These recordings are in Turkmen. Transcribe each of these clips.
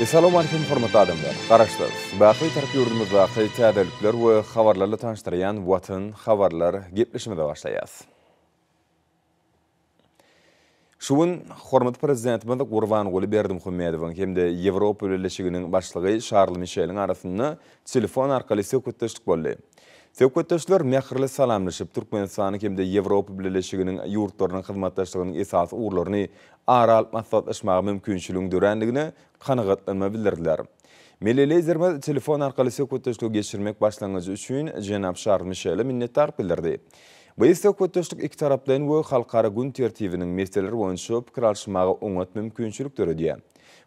Essalamu Aleýkum hormatly adamlar! Garaşsyz, Baky-Tarap ýurdumyzdaky täzelikler we habarlarla tanyşdyrýan Watan habarlar gepleşimize başlaýas. Şu gün hormatly Prezidentimiz Gurbanguly Berdimuhamedowyň hem-de Ýewropa Birleşiginiň Başlygy Şarl Mişeliň arasynda telefon arkaly söhbetdeşlik boldy. Söhbetdeşler mähirli salamlaşyp, Türkmenistanyň hem-de Ýewropa Birleşiginiň ýurtlarynyň hyzmatdaşlygynyň esasy ugurlaryny ara alyp maslahatlaşmaga mümkinçiligiň dörändigine kanagatlanma bildirdiler. Milli Liderimiz telefon arkaly söhbetdeşligi geçirmek başlangyjy üçin jenap Şarl Mişele minnetdarlyk bildirdi. Biz söhbetdeşlik ikitaraplaýyn we halkara gün tertibiniň meseleleri boýunça pikir alyşmaga oňat mümkinçilik döredýär.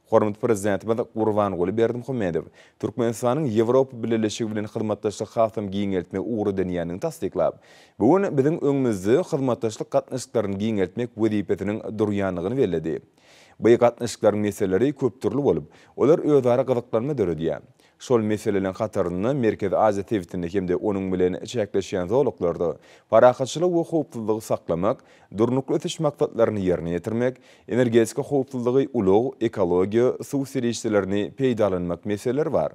Hormatly Prezidentimiz Gurbanguly Berdimuhamedow Türkmenistanyň Ýewropa Bileleşigi bilen hyzmatdaşlygy hasam giňeltmegi ugry edinýändigini tassyklap, Bu gün biziň öňümizde hyzmatdaşlyk gatnaşyklaryny giňeltmek wezipesiniň durýandygyny belledi. By gatnaşyklaryň meseleleri köpdürli bolup, olar özara gyzyklanma döredýär. Şol meseleleriň hatarynda Merkezi Aziýa sebitinde hem-de onuň bilen çäkleşýän zolaklarda parahatçylygy we howpsuzlygy saklamak, Durnukly ösüş maksatlaryny ýerine ýetirmek, energetika howpsuzlygy, ulag, ekologiýa, suw serişdelerini peýdalanmak meseleleri bar.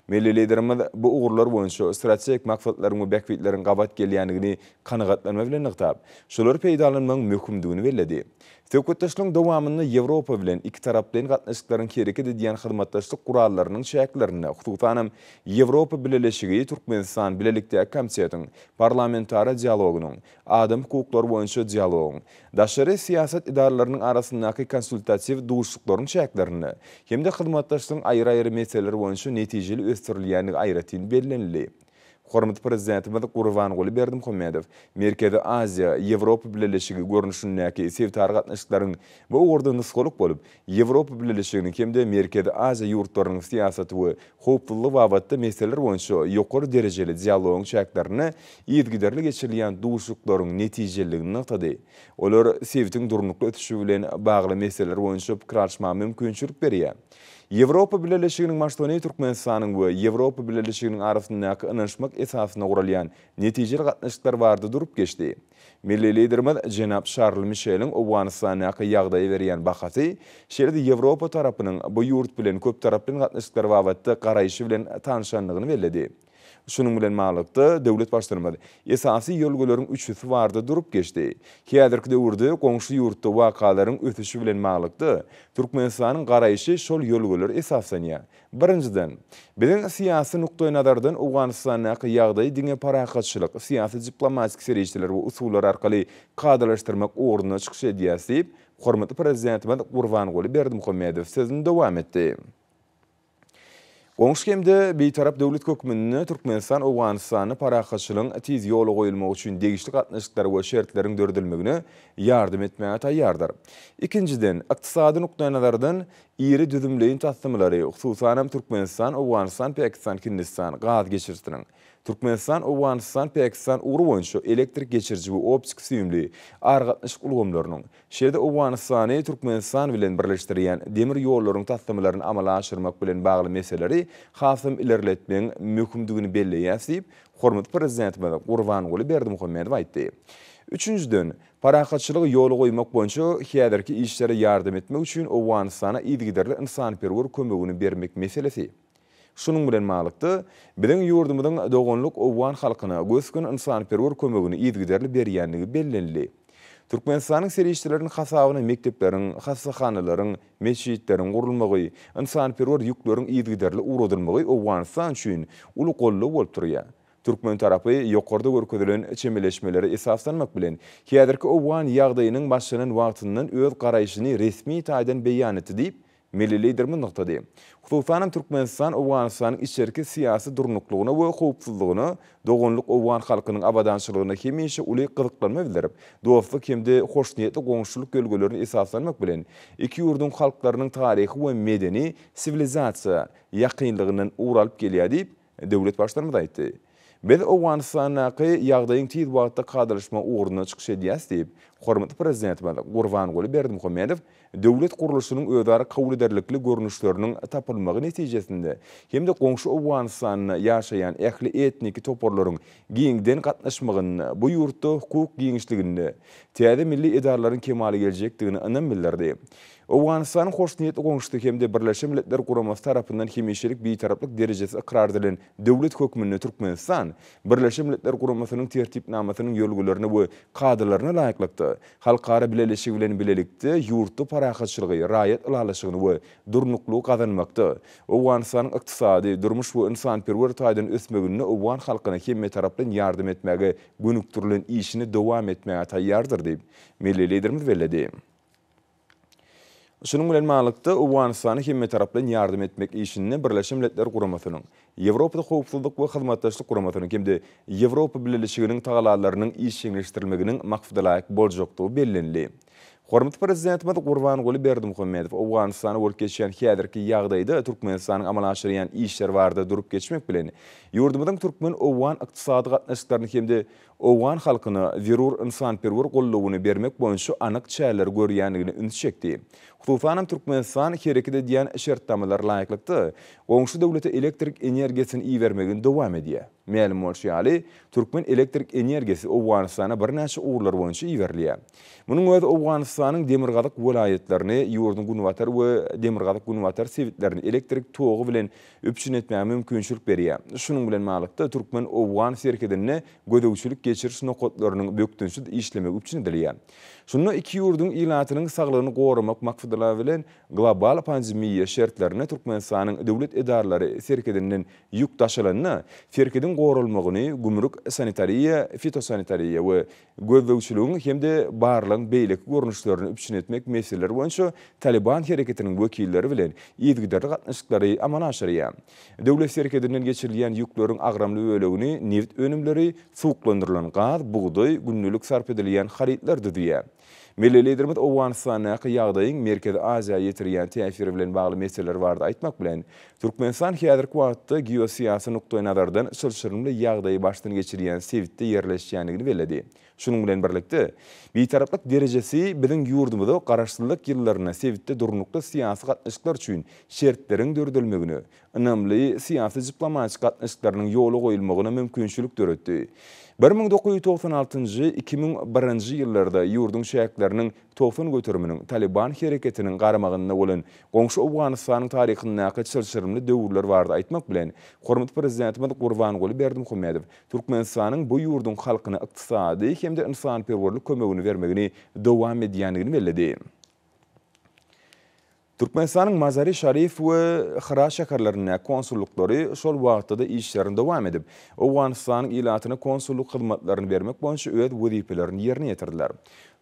Milli Liderimiz bu ugurlar boýunça strategik maksatlaryň we bähbitleriň gabat gelýändigini kanagatlanma bilen nygtap, şolary peýdalanmagyň möhümdigini belledi. Söhbetdeşligiň dowamynda Ýewropa bilen ikitaraplaýyn gatnaşyklaryň hereket edýän hyzmatdaşlyk gurallarynyň çäklerinde, hususanam, Ýewropa Bileleşigi, Türkmenistan bilelikdäki komitetiň, parlamentara dialogynyň, Adam hukuklary boýunça dialogyň, daşary syýasat edaralarynyň arasyndaky konsultatiw duşuşyklaryň çäklerinde hem-de hyzmatdaşlygyň aýry-aýry meseleleri boýunça netijeli ösdürilýändigi aýratyn bellenildi. Hormatly Prezidentimiz Gurbanguly Berdimuhamedow Merkezi Aziýa, Ýewropa Bileleşigi görnüşindäki sebitara gatnaşyklaryň bu ugurda nusgalyk bolup, Ýewropa Bileleşiginiň hem-de Merkezi Aziýa ýurtlarynyň syýasaty we howpsuzlygy babatda meseleler boýunça ýokary derejeli dialogyň çäklerinde yzygiderli geçirilýän duşuşyklaryň netijeliligini nygtady. Olar sebitiň durnukly ösüşi bilen bagly meseleler boýunça pikir alyşmaga mümkinçilik berýär. Ýewropa Bileleşiginiň Marsony Türkmenistanyň we Ýewropa Bileleşiginiň arasyndaky ynanyşmak esasyna guralýan netijeli gatnaşyklar barada durup geçdi. Milli Liderimiz jenap Şarl Mişeliň Owganystandaky ýagdaýa berýän bahasy, şeýle-de Ýewropa tarapynyň bu ýurt bilen köptaraplaýyn gatnaşyklar babatda garaýşy bilen tanyşandygyny belledi. Şunuň bilen baglylykda, döwlet Baştutanymyz esasy ýörelgeleriň üçüsi barada durup geçdi. Häzirki döwürde goňşy ýurtda wakalaryň ösüşi bilen baglylykda, Türkmenistanyň garaýşy şol ýörelgelere esaslanýar, Birinjiden, biziň syýasy nukdaýnazardan Owganystandaky ýagdaýy diňe parahatçylyk, syýasy-diplomatik serişdeler we usullar arkaly kadalaşdyrmak ugrunda çykyş edýäris diýip, hormatly Prezidentimiz Gurbanguly Berdimuhamedow sözüni dowam etdi. Goňşy hem-de Bitarap döwlet hökmünde Türkmenistan Owganystanda parahatçylygyň tiz ýola goýulmagy üçin degişli gatnaşyklar we şertleriň döredilmegine ýardam etmäge taýýardyr. Ikinjiden, ykdysady nukdaýnazardan Iri düzümleýin taslamalar-y, hususanam Türkmenistan, Owganystan, Päkistan, Hindistan, gaz geçirisiniň, Türkmenistan, Owganystan, Päkistan ugry boýunça elektrik geçiriji we optiki süýümli aragatnaşyk ulgamlarynyň, şeýle-de Owganystany Türkmenistan bilen birleşdirýän demir ýollaryň taslamalaryny amala aşyrmak bilen bagly meseleleri hasam ilerletmegiň möhümdigini belleýäs diýip, hormatly Prezidentimiz Gurbanguly Berdimuhamedow aýtdy. Üçünjiden, Parahatçylygy ýola goýmak boýunça häzirki işlere ýardam etmek üçin Owganystana yzygiderli ynsanperwer kömegini bermek meselesi. Şunuň bilen baglylykda, biziň ýurdumyzyň doganlyk owgan halkyna gös-gün ynsanperwer kömegini yzygiderli berýändigi bellenildi. Türkmenistanyň serişdeleriniň hasabyna mekdepleriň, hassahanalaryň, metjitleriň gurulmagy, ynsanperwer ýükleriň yzygiderli ugradylmagy Owganystan üçin uly goldaw bolup durýar. Türkmen tarapy ýokarda görkezilen çemeleşmelere esaslanmak bilen, häzirki owgan ýagdaýynyň başlanan wagtyndan öz garaýşyny resmi taýdan beýan etdi diýip, milli Liderimiz nygtady. Hususanam Türkmenistan Owganystanyň içerki syýasy durnuklygyna we howpsuzlygyna, doganlyk owgan halkynyň abadançylygyna hemişe uly gyzyklanma bildirip, dostluk hem-de hoşniýetli goňşuçylyk ýörelgelerine esaslanmak bilen, iki ýurduň halklarynyň taryhy we medeni, siwilizasiýa, ýakynlygyndan ugur alyp gelýär diýip, Döwlet Baştutanymyz aýtdy. Biz Owganystandaky ýagdaýyň tiz wagtda kadalaşmagy ugrunda çykyş edýäs diýip, hormatly Prezidentimiz Gurbanguly Berdimuhamedow döwlet gurluşynyň özara kabul ederlikli görnüşleriniň tapylmagy netijesinde hem-de goňşy Owganystanda ýaşaýan ähli etniki toparlaryň giňden gatnaşmagynda bu ýurtda hukuk giňişliginde täze milli edaralaryň kemala geljekdigine ynam bildirdi. Owganystanyň hoşniýetli goňşusy hem-de Birleşen Milletler Guramasy tarapyndan hemişelik Bitaraplyk derejesi ykrar edilen döwlet hökmünde Türkmenistan, Birleşen Milletler Guramasynyň Tertipnamasynyň ýörgülerine we kadalaryna laýyklykda, halkara bileleşigi bilen bilelikde, ýurtda parahatçylygy, raýat ylalaşygyny we durnuklygy gazanmakda, Owganystanyň ykdysady, durmuş we ynsanperwer taýdan ösmeginde owgan halkyna hemmetaraplaýyn ýardam etmäge gönükdirilen işini dowam etmäge taýýardyr diýip, milli Liderimiz belledi. Şunuň bilen baglylykda, Owganystana hemmetaraplaýyn ýardam etmek işinde Birleşen Milletler Guramasynyň, Ýewropada Howpsuzlyk we Hyzmatdaşlyk Guramasynyň hem-de Ýewropa Bileleşiginiň tagallalarynyň işjeňleşdirilmeginiň maksadalaýyk boljakdygy bellenildi. Hormatly Prezidentimiz Gurbanguly Berdimuhamedow Owganystanda bolup geçýän häzirki ýagdaýda Türkmenistanyň amala aşyrýan işleri barada durup geçmek bilen, ýurdumyzyň türkmen-owgan ykdysady gatnaşyklaryny hem-de owgan halkyna zerur ynsanperwer goldawyny bermek boýunça anyk çäreleri görýändigine ünsi çekdi. Hususanam Türkmenistan hereket edýän şertnamalara laýyklykda, goňşy döwlete elektrik energiýasyny ibermegini dowam edýär. Mälim bolşy ýaly, türkmen elektrik energiýasy Owganystana birnäçe ugurlar boýunça iberilýär. Munuň özi Owganystanyň demirgazyk welaýatlaryny, ýurduň günbatar we demirgazyk-günbatar sebitlerini elektrik togy bilen üpjün etmäge mümkinçilik berýär. Şunuň bilen ballykda, türkmen-owgan serhedinde gözegçilik geçiriş nokatlarynyň bökdençsiz işlemegi üpjün edilýär. Şunda iki ýurduň ilatynyň saglygyny goramak makfdalary bilen global pandemiýa şertlerinde Türkmenistanyň döwlet edaralary serhedinden ýük daşalanda, serhediň goralmagyny gümrük, sanitariýa, fitosanitariýa we gözlegçiligiň hem-de barlagyň beýleki görnüşlerini üpjün etmek meseleleri boýunça Talyban hereketiniň wekilleri bilen yzygiderli gatnaşyklary amala aşyrýar. Döwlet serhedinden geçirilýän ýükleriň agramly bölegini nebit önümleri, suwuklandyrylan gaz, bugdaý, gündelik sarp edilýän harytlar düzýär. Milli Liderimiz Owganystandaky ýagdaýyň Merkezi Aziýa ýetirýän täsiri bilen bagly meseleler barada aýtmak bilen, Türkmenistan häzirki wagtda geosyýasy nukdaýnazardan çylşyrymly ýagdaýy başdan geçirýän sebitde ýerleşýändigini belledi. Şunuň bilen birlikde, Bitaraplyk derejesi biziň ýurdumyza garaşsyzlyk ýyllarynda sebitde durnukly syýasy gatnaşyklar üçin şertleriň döredilmegine, ynamly syýasy-diplomatik gatnaşyklarynyň ýola goýulmagyna mümkinçilik döretdi. Bir müň dokuz ýüz togsan altynjy, iki müň birinji ýyllarda ýurduň çäkleriniň Togsan göteriminiň Talyban hereketiniň garamagynda bolan goňşy Owganystanyň taryhyndaky çylşyrymly döwürler barada aýtmak bilen, hormatly Prezidentimiz Gurbanguly Berdimuhamedow Türkmenistanyň bu ýurduň halkyna ykdysady hem-de ynsanperwerlik kömegini bermegini dowam edýändigini belledi. Türkmenistanyň Mazari-Şarif we Hyra şäherlerindäki konsullyklary şol wagtda-da işlerini dowam edip, Owganystanyň ilatyna konsullyk hyzmatlaryny bermek boýunça öz wezipelerini ýerine ýetirdiler.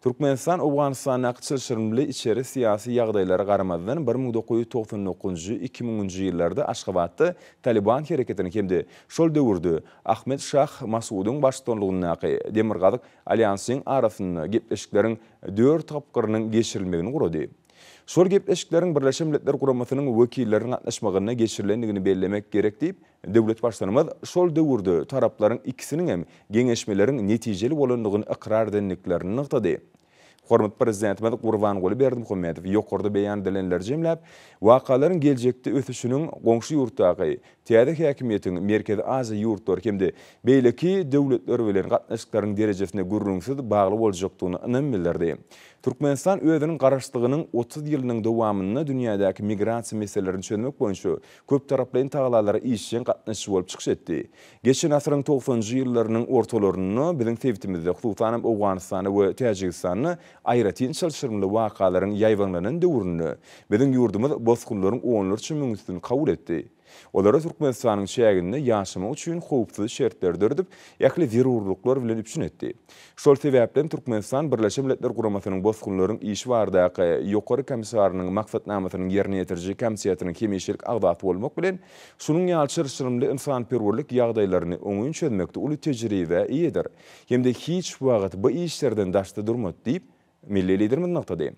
Türkmenistan Owganystandaky çylşyrymly içeri syýasy ýagdaýlara garamazdan bir müň dokuz ýüz togsan dokuzynjy, iki müňünji ýyllarda Aşgabatda Talyban hereketiniň hem-de şol döwürde Ahmed Şah Masudyň baştutanlygyndaky Demirgazyk alýansyň arasynda gepleşikleriň dört tapgyrynyň geçirilmegini gurady. Şol gepleşikleriň Birleşen Milletler Guramasynyň wekilleriniň gatnaşmagynda geçirilendigini bellemek gerek diýip, döwlet Baştutanymyz şol döwürde taraplaryň ikisiniň hem geňeşmeleriň netijeli bolandygyny ykrar edendiklerini nygtady. Hormatly Prezidentimiz Gurbanguly Berdimuhamedow ýokarda beýan edilenleri jemläp, wakalaryň geljekde ösüşiniň goňşy ýurtdaky Täze häkimiýetiň Merkezi Aziýa ýurtlary hem-de beýleki döwletler bilen gatnaşyklaryň derejesine gürrüňsiz bagly boljakdygyna ynam bildirdi. Türkmenistan özüniň Garaşsyzlygynyň otuz ýylynyň dowamynda dünýädäki migrasiýa meselelerini çözmek boýunça köptaraplaýyn tagalalara işjeň gatnaşyjy bolup çykyş etdi. Geçen asyryň togsanjy ýyllarynyň ortalarynda biziň sebitimizde, hususanam Owganystanda we Täjigistanda Aýratyn çylşyrymly wakalaryň ýaýbaňlanan döwründe biziň ýurdumyz bosgunlaryň onlarça müňüsini kabul etdi. Olara Türkmenistanyň çäginde ýaşamak üçin howpsuz şertleri döredip, ähli zerurlyklar bilen üpjün etdi. Şol sebäplem Türkmenistan Birleşen Milletler Guramasynyň Bosgunlaryň işi baradaky Ýokary Komissarynyň Maksatnamasynyň ýerine ýetiriji komitetiniň hemişelik agzasy bolmak bilen, şunuň ýaly çyrşyrymly ynsanperwerlik ýagdaýlaryny oňyn çözmekde uly tejribä eýedir. hem-de hiç wagt bu işlerden daşda durmady diýip, milli Liderimiz nygtady.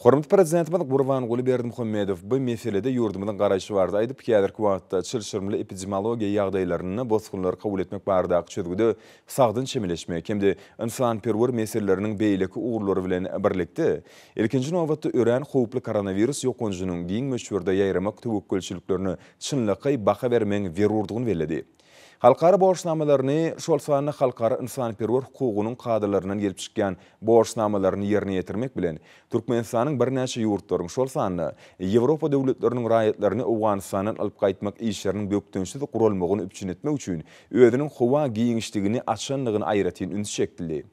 Hormatly Prezidentimiz Gurbanguly Berdimuhamedow bu meselede ýurdumyzyň garaýşy barada aýdyp, häzirki wagtda çylşyrymly epidemiologiýa ýagdaýlarynda bosgunlary kabul etmek baradaky çözgüde sagdyn çemeleşmek hem-de ynsanperwer meseleleriniň beýleki ugurlary bilen birlikde, ilkinji nobatda, örän howply koronawirus ýokanjynyň giň möçberde ýaýramak töwekgelçiliklerine çynlakaý baha bermegiň zerurdygyny belledi. Halkara borçnamalaryny, şol sanda halkara ynsanperwer hukugynyň kadalaryndan gelip çykýan borçnamalaryny ýerine ýetirmek bilen, Türkmenistanyň birnäçe ýurtlaryň, şol sanda Ýewropa döwletleriniň raýatlaryny Owganystandan alyp gaýtmak işleriniň bökdençsiz guralmagyny üpjün etmek üçin özüniň howa giňişligini açandygyna aýratyn üns çekildi.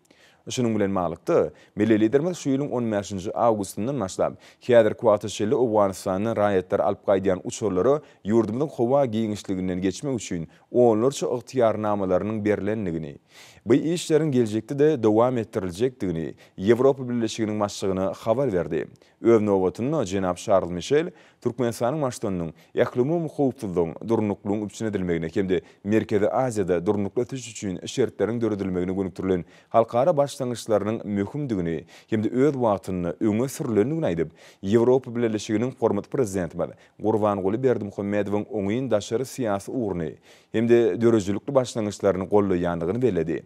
Şunuň bilen baglylykda, milli Liderimiz şu ýylyň on bäşinji awgustyndan başlap, häzirki wagta çenli Owganystandan raýatlary alyp gaýdýan uçarlara ýurdumyzyň howa giňişliginden geçmek üçin onlarça ygtyýarnamalarynyň berlendigini, bu işleriň geljekde-de dowam etdiriljekdigini Ýewropa Birleşiginiň Başlygyna habar berdi. Öz nobatynda, jenap Şarl Mişel Türkmenistanyň Baştutanynyň ählumumy howpsuzlygyň, durnuklylygyň üpjün edilmegine hem-de Merkezi Aziýada durnukly ösüş üçin şertleriň döredilmegine gönükdirilen halkara başlangyçlarynyň möhümdigini hem-de öz wagtynda öňe sürülendigini aýdyp, Ýewropa Bileleşiginiň hormatly Prezidentimiz Gurbanguly Berdimuhamedowyň oňyn daşary syýasy ugruny hem-de döredijilikli başlangyçlaryny goldaýandygyny belledi.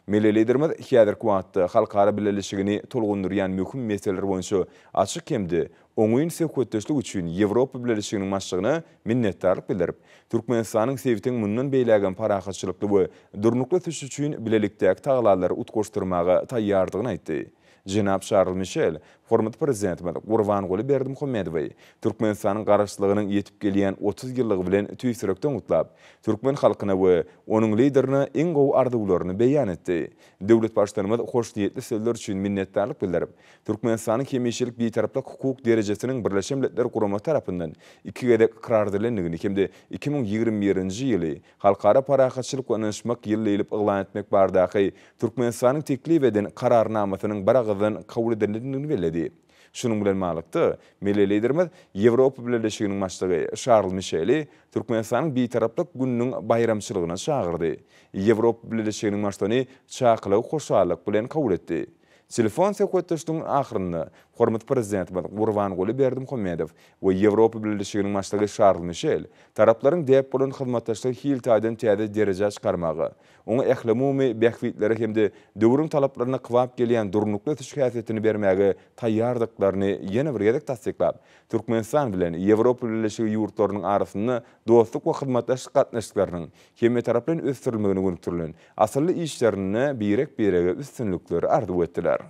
Milli Liderimiz häzirki wagtda halkara bileleşigini tolgundyrýan möhüm meseleler boýunça açyk hem-de oňyn söhbetdeşlik üçin Ýewropa Bileleşiginiň Başlygyna minnetdarlyk bildirip, Türkmenistanyň sebitiň mundan beýläk hem parahatçylykly we durnukly ösüşi üçin bilelikdäki tagalallary utgaşdyrmaga taýýardygyny aýtdy. Jenap Şarl Mişel hormatly Prezidentimiz Gurbanguly Berdimuhamedowy Türkmenistanyň Garaşsyzlygynyň ýetip gelýän otuz ýyllygy bilen tüýs ýürekden gutlap, türkmen halkyna we onuň Liderine iň gowy arzuwlaryny beýan etdi. Döwlet Baştutanymyz hoşniýetli sözler üçin minnetdarlyk bildirip, Türkmenistanyň hemişelik Bitaraplyk hukuk derejesiniň Birleşen Milletler Guramasy tarapyndan iki gezek ykrar edilendigini hem-de iki müň ýigrimi birinji ýyly Halkara parahatçylyk we ynanyşmak ýyly diýlip yglan etmek baradaky Türkmenistanyň teklip eden Kararnamasynyň biragyzdan kabul edilendigini belledi. Şunuň bilen baglylykda, milli Liderimiz Ýewropa Bileleşiginiň Başlygy Şarl Mişeli Türkmenistanyň Bitaraplyk gününiň baýramçylygyna çagyrdy. Ýewropa Bileleşiginiň Başlygyny çakylygy hoşallyk bilen kabul etdi. Telefon söhbetdeşliginiň ahyrynda hormatly Prezidentimiz Gurbanguly Berdimuhamedow we Ýewropa Bileleşiginiň Başlygy Şarl Mişel taraplaryň däp bolan hyzmatdaşlygy hil taýdan täze derejä çykarmaga, oňa ählumumy bähbitleri hem-de döwrüň talaplaryna kybap gelýän durnukly ösüş häsiýetini bermäge taýýardyklaryny ýene bir gezek tassyklap, Türkmenistan bilen Ýewropa Bileleşigi ýurtlarynyň arasynda dostluk we hyzmatdaşlyk gatnaşyklarynyň hemmetaraplaýyn ösdürilmegine gönükdirilen asylly işlerinde birek-birege üstünlikleri arzuw etdiler.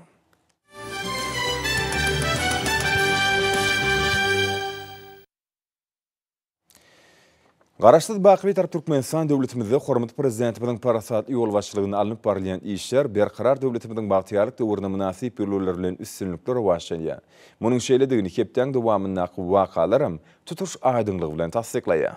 Garaşsyz, baky Bitarap Türkmenistan döwletimizde hormatly Prezidentimiziň parasatly ýolbaşçylygynda alnyp barylýan işler Berkarar döwletimiziň bagtyýarlyk döwrüne mynasyp ýörelgeler bilen üstünlikli rowaçlanýar. Munuň şeýledigini hepdäň dowamyndaky wakalaram tutuş aýdyňlygy bilen tassyklaýar.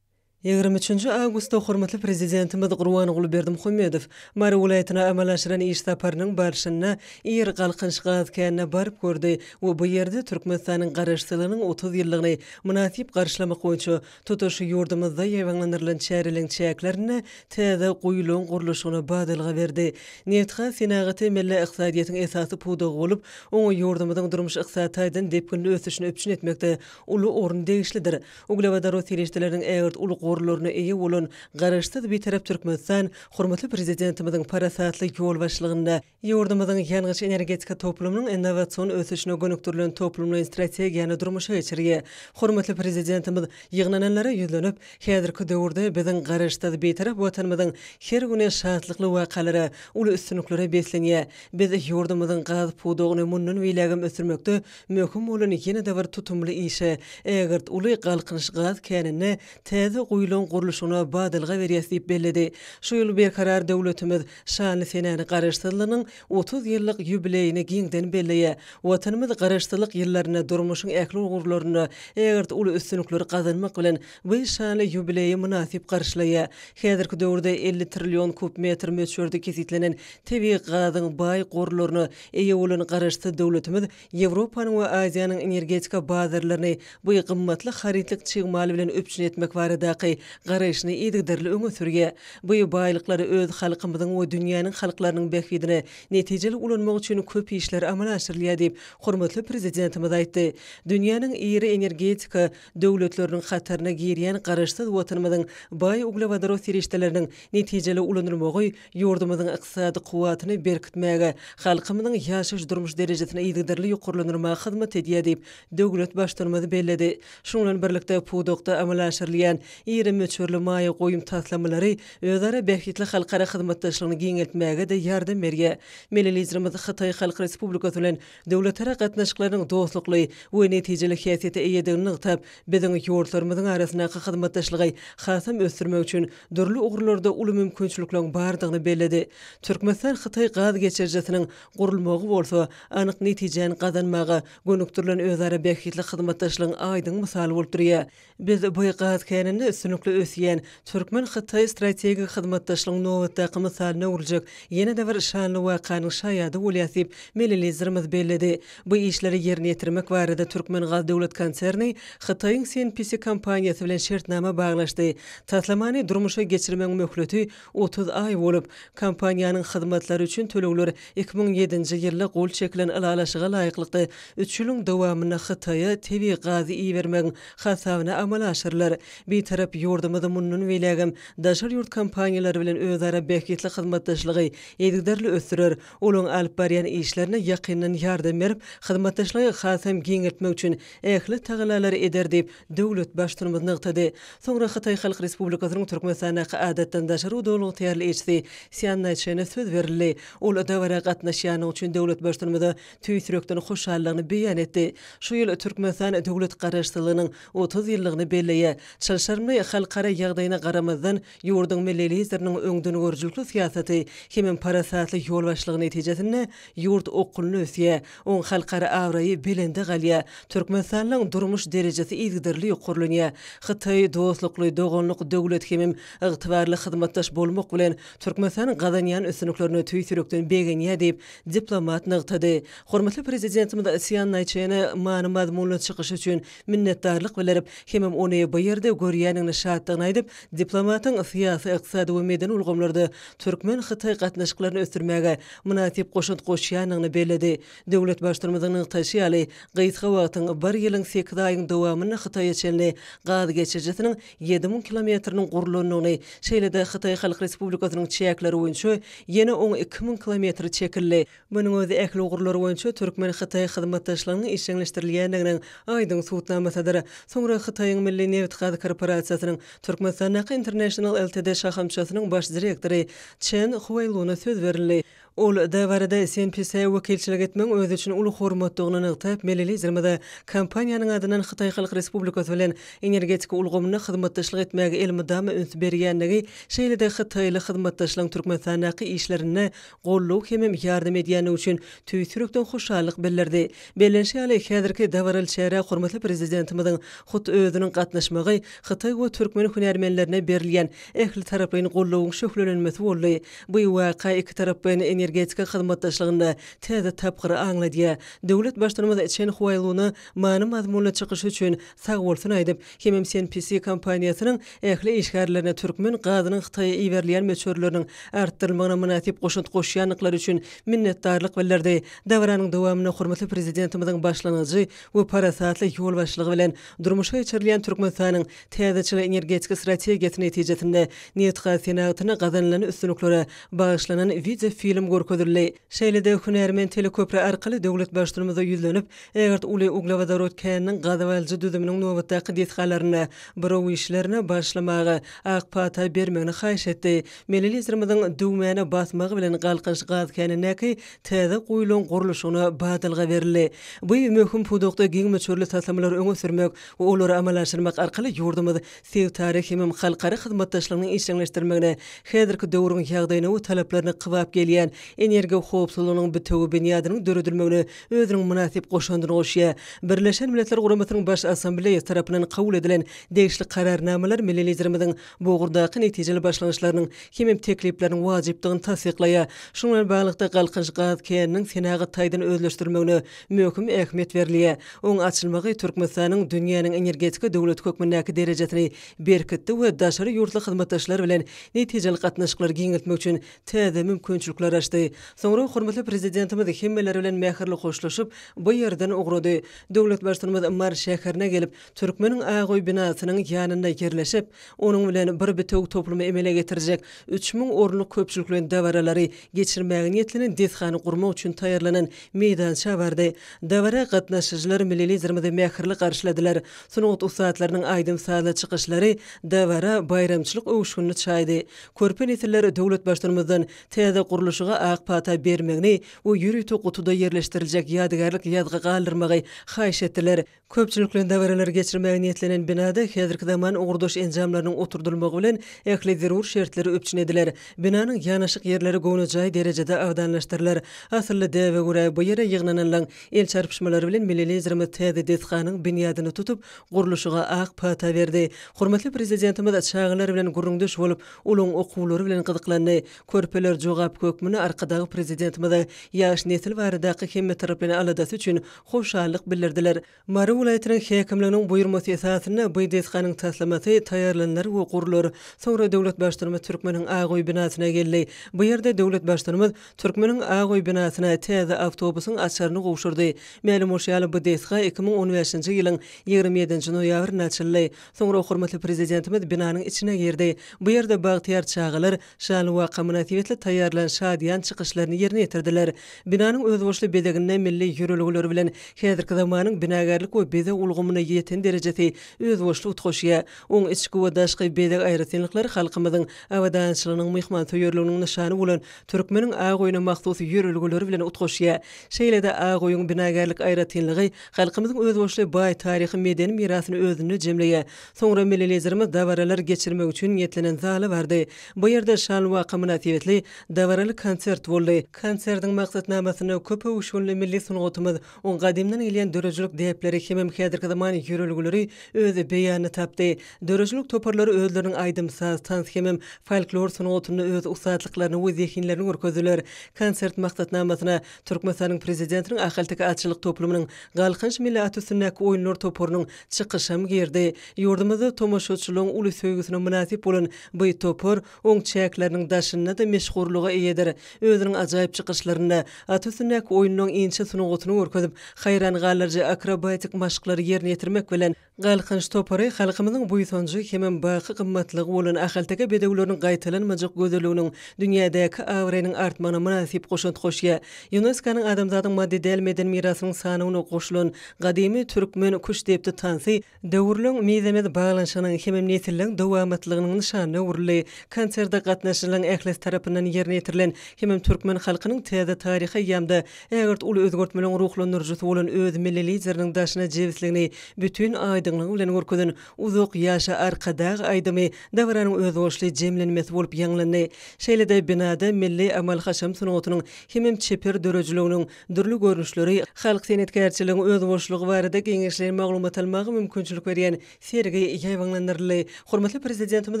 Ýigrimi üçünji awgustda hormatly Prezidentimiz Gurbanguly Berdimuhamedow Mary welaýatyna amala aşyran iş saparynyň barşynda Ir Galkynyş gaz känine baryp gördi we bu ýerde Türkmenistanyň Garaşsyzlygynyň otuz ýyllygyny mynasyp garşylamak boýunça tutuş ýurdumyzda ýaýbaňlandyrylan çäreleriň çäklerinde täze guýularyň gurluşygyna badalga berdi. Nebitgaz senagaty milli ykdysadyýetiň esasy pudagy bolup, oňa ýurdumyzyň durmuş-ykdysady taýdan depginli ösüşini üpjün etmekde uly orun degişlidir. Uglewodorod serişdeleriniň ägirt uly gorlaryna eýe bolan Garaşsyz, Bitarap Türkmenistan hormatly Prezidentimiziň parasatly ýolbaşçylygynda ýurdumyzyň ýangyç-energetika toplumynyň innowasion ösüşine gönükdirilen toplumlaýyn strategiýany durmuşa geçirýär. Hormatly Prezidentimiz ýygnananlara ýüzlenip, Häzirki döwürde biziň Garaşsyz, Bitarap Watanymyzyň her güni şatlykly wakalara, uly üstünliklere beslenýär. Biz ýurdumyzyň gaz pudagyny mundan beýlägem ösdürmekde Möhüm bolan ýene-de bir tutumly işe, ägirt uly Galkynyş gaz känine täze guýulaň gurluşygyna badalga berýäs diýip belledi. Şu ýyl Berkarar döwletimiz şanly senäni Garaşsyzlygynyň otuz ýyllyk ýubileýini giňden belleýär. Watanymyz Garaşsyzlyk ýyllarynda durmuşyň ähli ugurlarynda ägirt uly üstünlikleri gazanmak bilen, bu şanly ýubileýi mynasyp garşylaýar. Häzirki döwürde elli trillion kub metr möçberde kesgitlenen tebigy gazyň baý gorlaryna Eýe bolan Garaşsyz döwletimiz Ýewropanyň we Aziýanyň energetika bazarlaryny bu gymmatly harytlyk çig mal bilen üpjün etmek baradaky garaýşyny yzygiderli öňe sürýär. Bu baýlyklary öz halkymyzyň we dünýäniň halklarynyň bähbidine netijeli ulanmak üçin köp işler amala aşyrylýar diýip, hormatly Prezidentimiz aýtdy. Dünýäniň iri energetika döwletleriniň hataryna girýän Garaşsyz Watanymyzyň baý uglewodorod serişdeleriniň netijeli ulanylmagy Ýurdumyzyň ykdysady kuwwatyny berkitmäge, halkymyzyň ýaşaýyş-durmuş derejesini yzygiderli ýokarlandyrmaga hyzmat edýär diýip, döwlet Baştutanymyz belledi. Şunuň bilen birlikde, pudakda amala aşyrylýan iri möçberli maýa goýum taslamalary özara bähbitli halkara hyzmatdaşlygyny giňeltmäge-de ýardam berýär. Milli Liderimiz Hytaý Halk Respublikasy bilen döwletara gatnaşyklarynyň dostlukly we netijeli häsiýete eýedigini nygtap, biziň ýurtlarymyzyň arasyndaky hyzmatdaşlygy hasam ösdürmek üçin dürli ugurlarda uly mümkinçilikleriň bardygyny belledi. Türkmenistan-Hytaý gaz geçirijisiniň gurulmagy bolsa anyk netijäni gazanmaga gönükdirilen özara bähbitli hyzmatdaşlygyň aýdyň mysaly bolup durýar. Biz bu gaz käninde üstünlikli ösýän türkmen-hytaý strategik hyzmatdaşlygyň nobatdaky mysalyna öwrüljek ýene-de bir şanly wakanyň şaýady bolýas diýip, milli Liderimiz belledi. Bu işleri ýerine ýetirmek barada Türkmengazy döwlet konserni Hytaýyň CNPC kompaniýasy bilen şertnama baglaşdy. Taslamany durmuşa geçirmegiň möhleti Otuz aý bolup, kompaniýanyň hyzmatlary üçin tölegler iki müň ýedinji ýylda gol çekilen ylalaşyga laýyklykda üç ýylyň dowamynda Hytaýa tebigy gazy ibermegiň hasabyna amala aşyrylar. Bitarap ýurdumyz mundan beýlägem daşary ýurt kompaniýalary bilen özara bähbitli hyzmatdaşlygy yzygiderli ösdürer, olaryň alyp barýan işlerine ýakyndan ýardam berip, hyzmatdaşlygy hasam giňeltmek üçin ähli tagallalary eder diýip, döwlet Baştutanymyz nygtady. Soňra Hytaý Halk Respublikasynyň Türkmenistandaky Adatdan daşary udalyň ygtyýarly ilçisi Sýan Naýçene söz berildi. Ol dabara gatnaşýandygy üçin döwlet Baştutanymyza tüýs ýürekden hoşallygyny beýan etdi. Şu ýyl Türkmenistan döwlet Garaşsyzlygynyň otuz ýyllygyny belleýär. Çylşyrymly halkara ýagdaýyna garamazdan, Ýurduň Milli Lideriniň öňdengörüjilikli syýasaty hemem parasatly ýolbaşçylygy netijesinde ýurt okgunly ösýär, oň halkara abraýy belende galýar, Türkmenistanyň durmuş derejesi yzygiderli ýokarlanýar. Hytaý dostlukly, doganlyk döwlet hemem ygtybarly hyzmatdaş bolmak bilen, Türkmenistan gazanýan üstünliklerine tüýs ýürekden begenýär diýip, diplomat nygtady. Hormatly Prezidentimiz Sýan Naýçene many-mazmunly çykyşy üçin minnetdarlyk bildirip, hemem ony bu ýerde görýändigine şatdygyny aýdyp, diplomatyň syýasy, ykdysady we medeni ulgamlarda türkmen-hytaý gatnaşyklaryny ösdürmäge mynasyp goşant goşýandygyny belledi. Döwlet Baştutanymyzyň nygtaýşy ýaly, gysga wagtyň, bir ýylyň sekiz aýyň dowamynda Hytaýa çenli gaz geçirijisiniň ýedi müň kilometriniň gurlandygyny, şeýle-de Hytaý Halk Respublikasynyň çäkleri boýunça ýene oň iki müň kilometri çekildi. Munuň özi ähli ugurlar boýunça türkmen-hytaý hyzmatdaşlygynyň işjeňleşdirilýändiginiň aýdyň subutnamasydyr. Soňra Hytaýyň Milli nebitgaz korporasiýasynyň Türkmenistandaky International Ltd şahamçasynyň baş direktory Çen Huaýluna söz berildi. Ol dabarada CNPC-e wekilçilik etmegiň özi üçin uly hormatdygyny nygtap, milli Liderimize kompaniýanyň adyndan Hytaý Halk Respublikasy bilen energetika ulgamynda hyzmatdaşlyk etmäge elmydama üns berýändigi, şeýle-de hytaýly hyzmatdaşlaryň Türkmenistandaky işlerinde goldaw hemem ýardam edýändigi üçin tüýs ýürekden hoşallyk bildirdi. Bellenişi ýaly, häzirki dabaraly çärä hormatly Prezidentimiziň hut özüniň gatnaşmagy hytaý we türkmen hünärmenlerine berilýän ählitaraplaýyn goldawyň şöhlelenmesi boldy. Bu waka ikitaraplaýyn energetika hyzmatdaşlygynda täze tapgyry aňladýar. Döwlet Baştutanymyz Çen Huaýluna many-mazmunly çykyşy üçin sagbolsun aýdyp, Hemem CNPC kompaniýasynyň ähli işgärlerine türkmen gazynyň Hytaýa iberilýän möçberleriniň artdyrylmagyna mynasyp goşant goşýandyklary üçin minnetdarlyk bildirdi. Dabaranyň dowamynda hormatly Prezidentimiziň başlangyjy we parasatly ýolbaşçylygy bilen durmuşa geçirilýän Türkmenistanyň täzeçil energetiki strategiýasy netijesinde nebitgaz senagatyna gazanylan üstünliklere bagyşlanan wideo film görkezildi. Şeýle-de hünärmen teleköpri arkaly döwlet Baştutumyza ýüzlenip, Ägirt uly uglewodorod käniniň gazyp alyjy düzüminiň nobatdaky desgalarynda buraw işlerine başlamaga ak pata bermegini haýyş etdi. Milli Liderimiziň düwmäne basmagy bilen Galkynyş gaz känindäki täze guýularyň gurluşygyna badalga berildi. Bu möhüm pudakda giň möçberli taslamalary öňe sürmek we olary amala aşyrmak arkaly ýurdumyz sebitara hemem halkara hyzmatdaşlygynyň işjeňleşdirilmegine häzirki döwrüň ýagdaýyna we talaplaryna kybap gelýän energiýa howpsuzlygynyň bitewi binýadynyň döredilmegine özüniň mynasyp goşandyny goşýar. Birleşen Milletler Guramasynyň Baş Assambleýasy tarapyndan kabul edilen degişli Kararnamalar milli Liderimiziň bu ugurdaky netijeli başlangyçlarynyň hemem teklipleriniň wajypdygyny tassyklaýar. Şunuň bilen baglylykda, Galkynyş gaz käniniň senagat taýdan özleşdirilmegine möhüm ähmiýet berilýär. Oň açylmagy Türkmenistanyň dünýäniň energetika döwleti hökmündäki derejesini berkitdi we daşary ýurtly hyzmatdaşlar bilen netijeli gatnaşyklary giňeltmek üçin täze mümkinçilikler açdy. Soňra hormatly Prezidentimiz hemmeler bilen mähirli hoşlaşyp, bu ýerden ugrady. Döwlet Baştutanymyz Mary şäherine gelip, Türkmeniň ak öý binasynyň ýanynda ýerleşip, onuň bilen bir bitewi toplumy emele getirjek üç müň orunlyk köpçülikleýin dabaralary geçirmäge niýetlenen desgany gurmak üçin taýýarlanan meýdança bardy. Dabara gatnaşyjylar milli Liderimizi mähirli garşyladylar. Sungat ussatlarynyň aýdym-sazly çykyşlary dabara baýramçylyk öwüşginini çaýdy. Körpe nesiller Döwletbaştuanymyzdan täze gurluşyga ak pata bermegini we ýörite gutuda ýerleşdiriljek ýadygärlik ýazgy galdyrmagy haýyş etdiler. Köpçülikleýin dabaralar geçirmäge niýetlenen binada häzirki zaman ugurdaş enjamlarynyň oturdylmagy bilen ähli zerur şertler üpjün ediler. Binanyň ýanaşyk ýerleri göwnejaý derejede abadanlaşdyrylar. Asylly däbe görä, bu ýere ýygnananlaň el çarpyşmalary bilen milli Liderimiz täze desganyň binýadyny tutup, gurluşyga ak pata berdi. Hormatly Prezidentimiz çagalar bilen gürrüňdeş bolup, olaryň okuwlary bilen gyzyklandy. Körpeler jogap hökmünde Arkadag Prezidentimize ýaş nesil baradaky hemmetaraplaýyn aladasy üçin hoşallyk bildirdiler. Mary welaýatynyň häkimliginiň buýurmasy esasynda bu desganyň taslamasy taýýarlanylar we gurlar. Soňra döwlet Baştutanymyz Türkmeniň ak öýi binasyna geldi. Bu ýerde döwlet Baştutanymyz, Türkmeniň ak öý binasyna täze awtobusyň açaryny gowşurdy. Mälim bolşy ýaly, bu desga iki müň on bäşinji ýylyň ýigrimi ýedinji noýabrynda açyldy. Soňra hormatly Prezidentimiz binanyň içine girdi. Bu ýerde bagtyýar çagalar şanly waka mynasybetli taýýarlan şadyýan çykyşlaryny ýerine ýetirdiler. Binanyň özboluşly bezeginde milli ýörelgeler bilen häzirki zamanyň binagärlik we bezeg ulgamyny ýeten derejesi özboluşly utgaşýar. Oň içki we daşky bezeg aýratynlyklary halkymyzyň abadançylygynyň, myhmansöýerliginiň nyşany bolan Türkmeniň ak öýüne mahsus ýörelgeleri bilen utgaşýar. Şeýle-de, ak öýüň binagärlik aýratynlygy halkymyzyň özboluşly baý taryhy-medeni mirasyny özünde jemleýär. Soňra milli Liderimiz dabaralar geçirmek üçin niýetlenen zala bardy. Bu ýerde şanly waka mynasybetli dabaraly konsert boldy. Konsertiň maksatnamasynda köp öwüşginli milli sungatymyz, oň gadymdan gelýän döredijilik däpleri hemem häzirki zaman ýörelgeleri öz beýanyny tapdy. Döredijilik toparlary özleriniň aýdym-saz, tans hemem folklor sungatynda öz ussatlyklaryny we zehinlerini görkezdiler. Konsert maksatnamasyna Türkmenistanyň Prezidentiniň Ahalteke atçylyk toplumynyň Galkynyş milli at üstündäki oýunlar toparynyň çykyşam girdi. Ýurdumyzda tomaşaçylygyň uly söýgüsine mynasyp bolan by topar oň çäkleriniň daşynda-da meşhurlyga eýedir. Özüniň ajaýyp çykyşlarynda at üstündäki oýunlaryň inçe sungatyny görkezip, haýran galyjy akrobatik maşklary ýerine ýetirmek bilen, Galkynyş topary halkymyzyň buýsanjy hemem baky gymmatlygy bolan ahalteke bedewleriniň gaýtalanmajak gözelliginiň dünýädäki abraýynyň artmagyna mynasyp goşant goşýar. Ýunesko-nyň Adamzadyň maddy däl medeni mirasynyň sanawyna goşulan gadymy türkmen küştdepdi tansy döwürleň mizemez baglanyşygynyň hemem nesilleň dowamatlygynyň nyşanyna öwrüldi. Konserde gatnaşyjylaryň ählisi tarapyndan ýerine ýetirilen hemem türkmen halkynyň täze taryhy eýýamda Ägirt uly özgertmeleriň ruhlandyryjysy bolan öz milli Lideriniň daşyna jebisligini bütin aýdyňlygy bilen görkezen Uzak ýaşa Arkadag! aýdymy dabaranyň özboluşly jemlenmesi bolup ýaňlandy. Şeýle-de binada milli amal-haşam sungatynyň hemem çeper döredijiliginiň dürli görnüşleri, halk senetkärçiligiň özboluşlygy barada geňeşleýin maglumat almaga mümkinçilik berýän Sergi ýaýbaňlandyryldy. Hormatly Prezidentimiz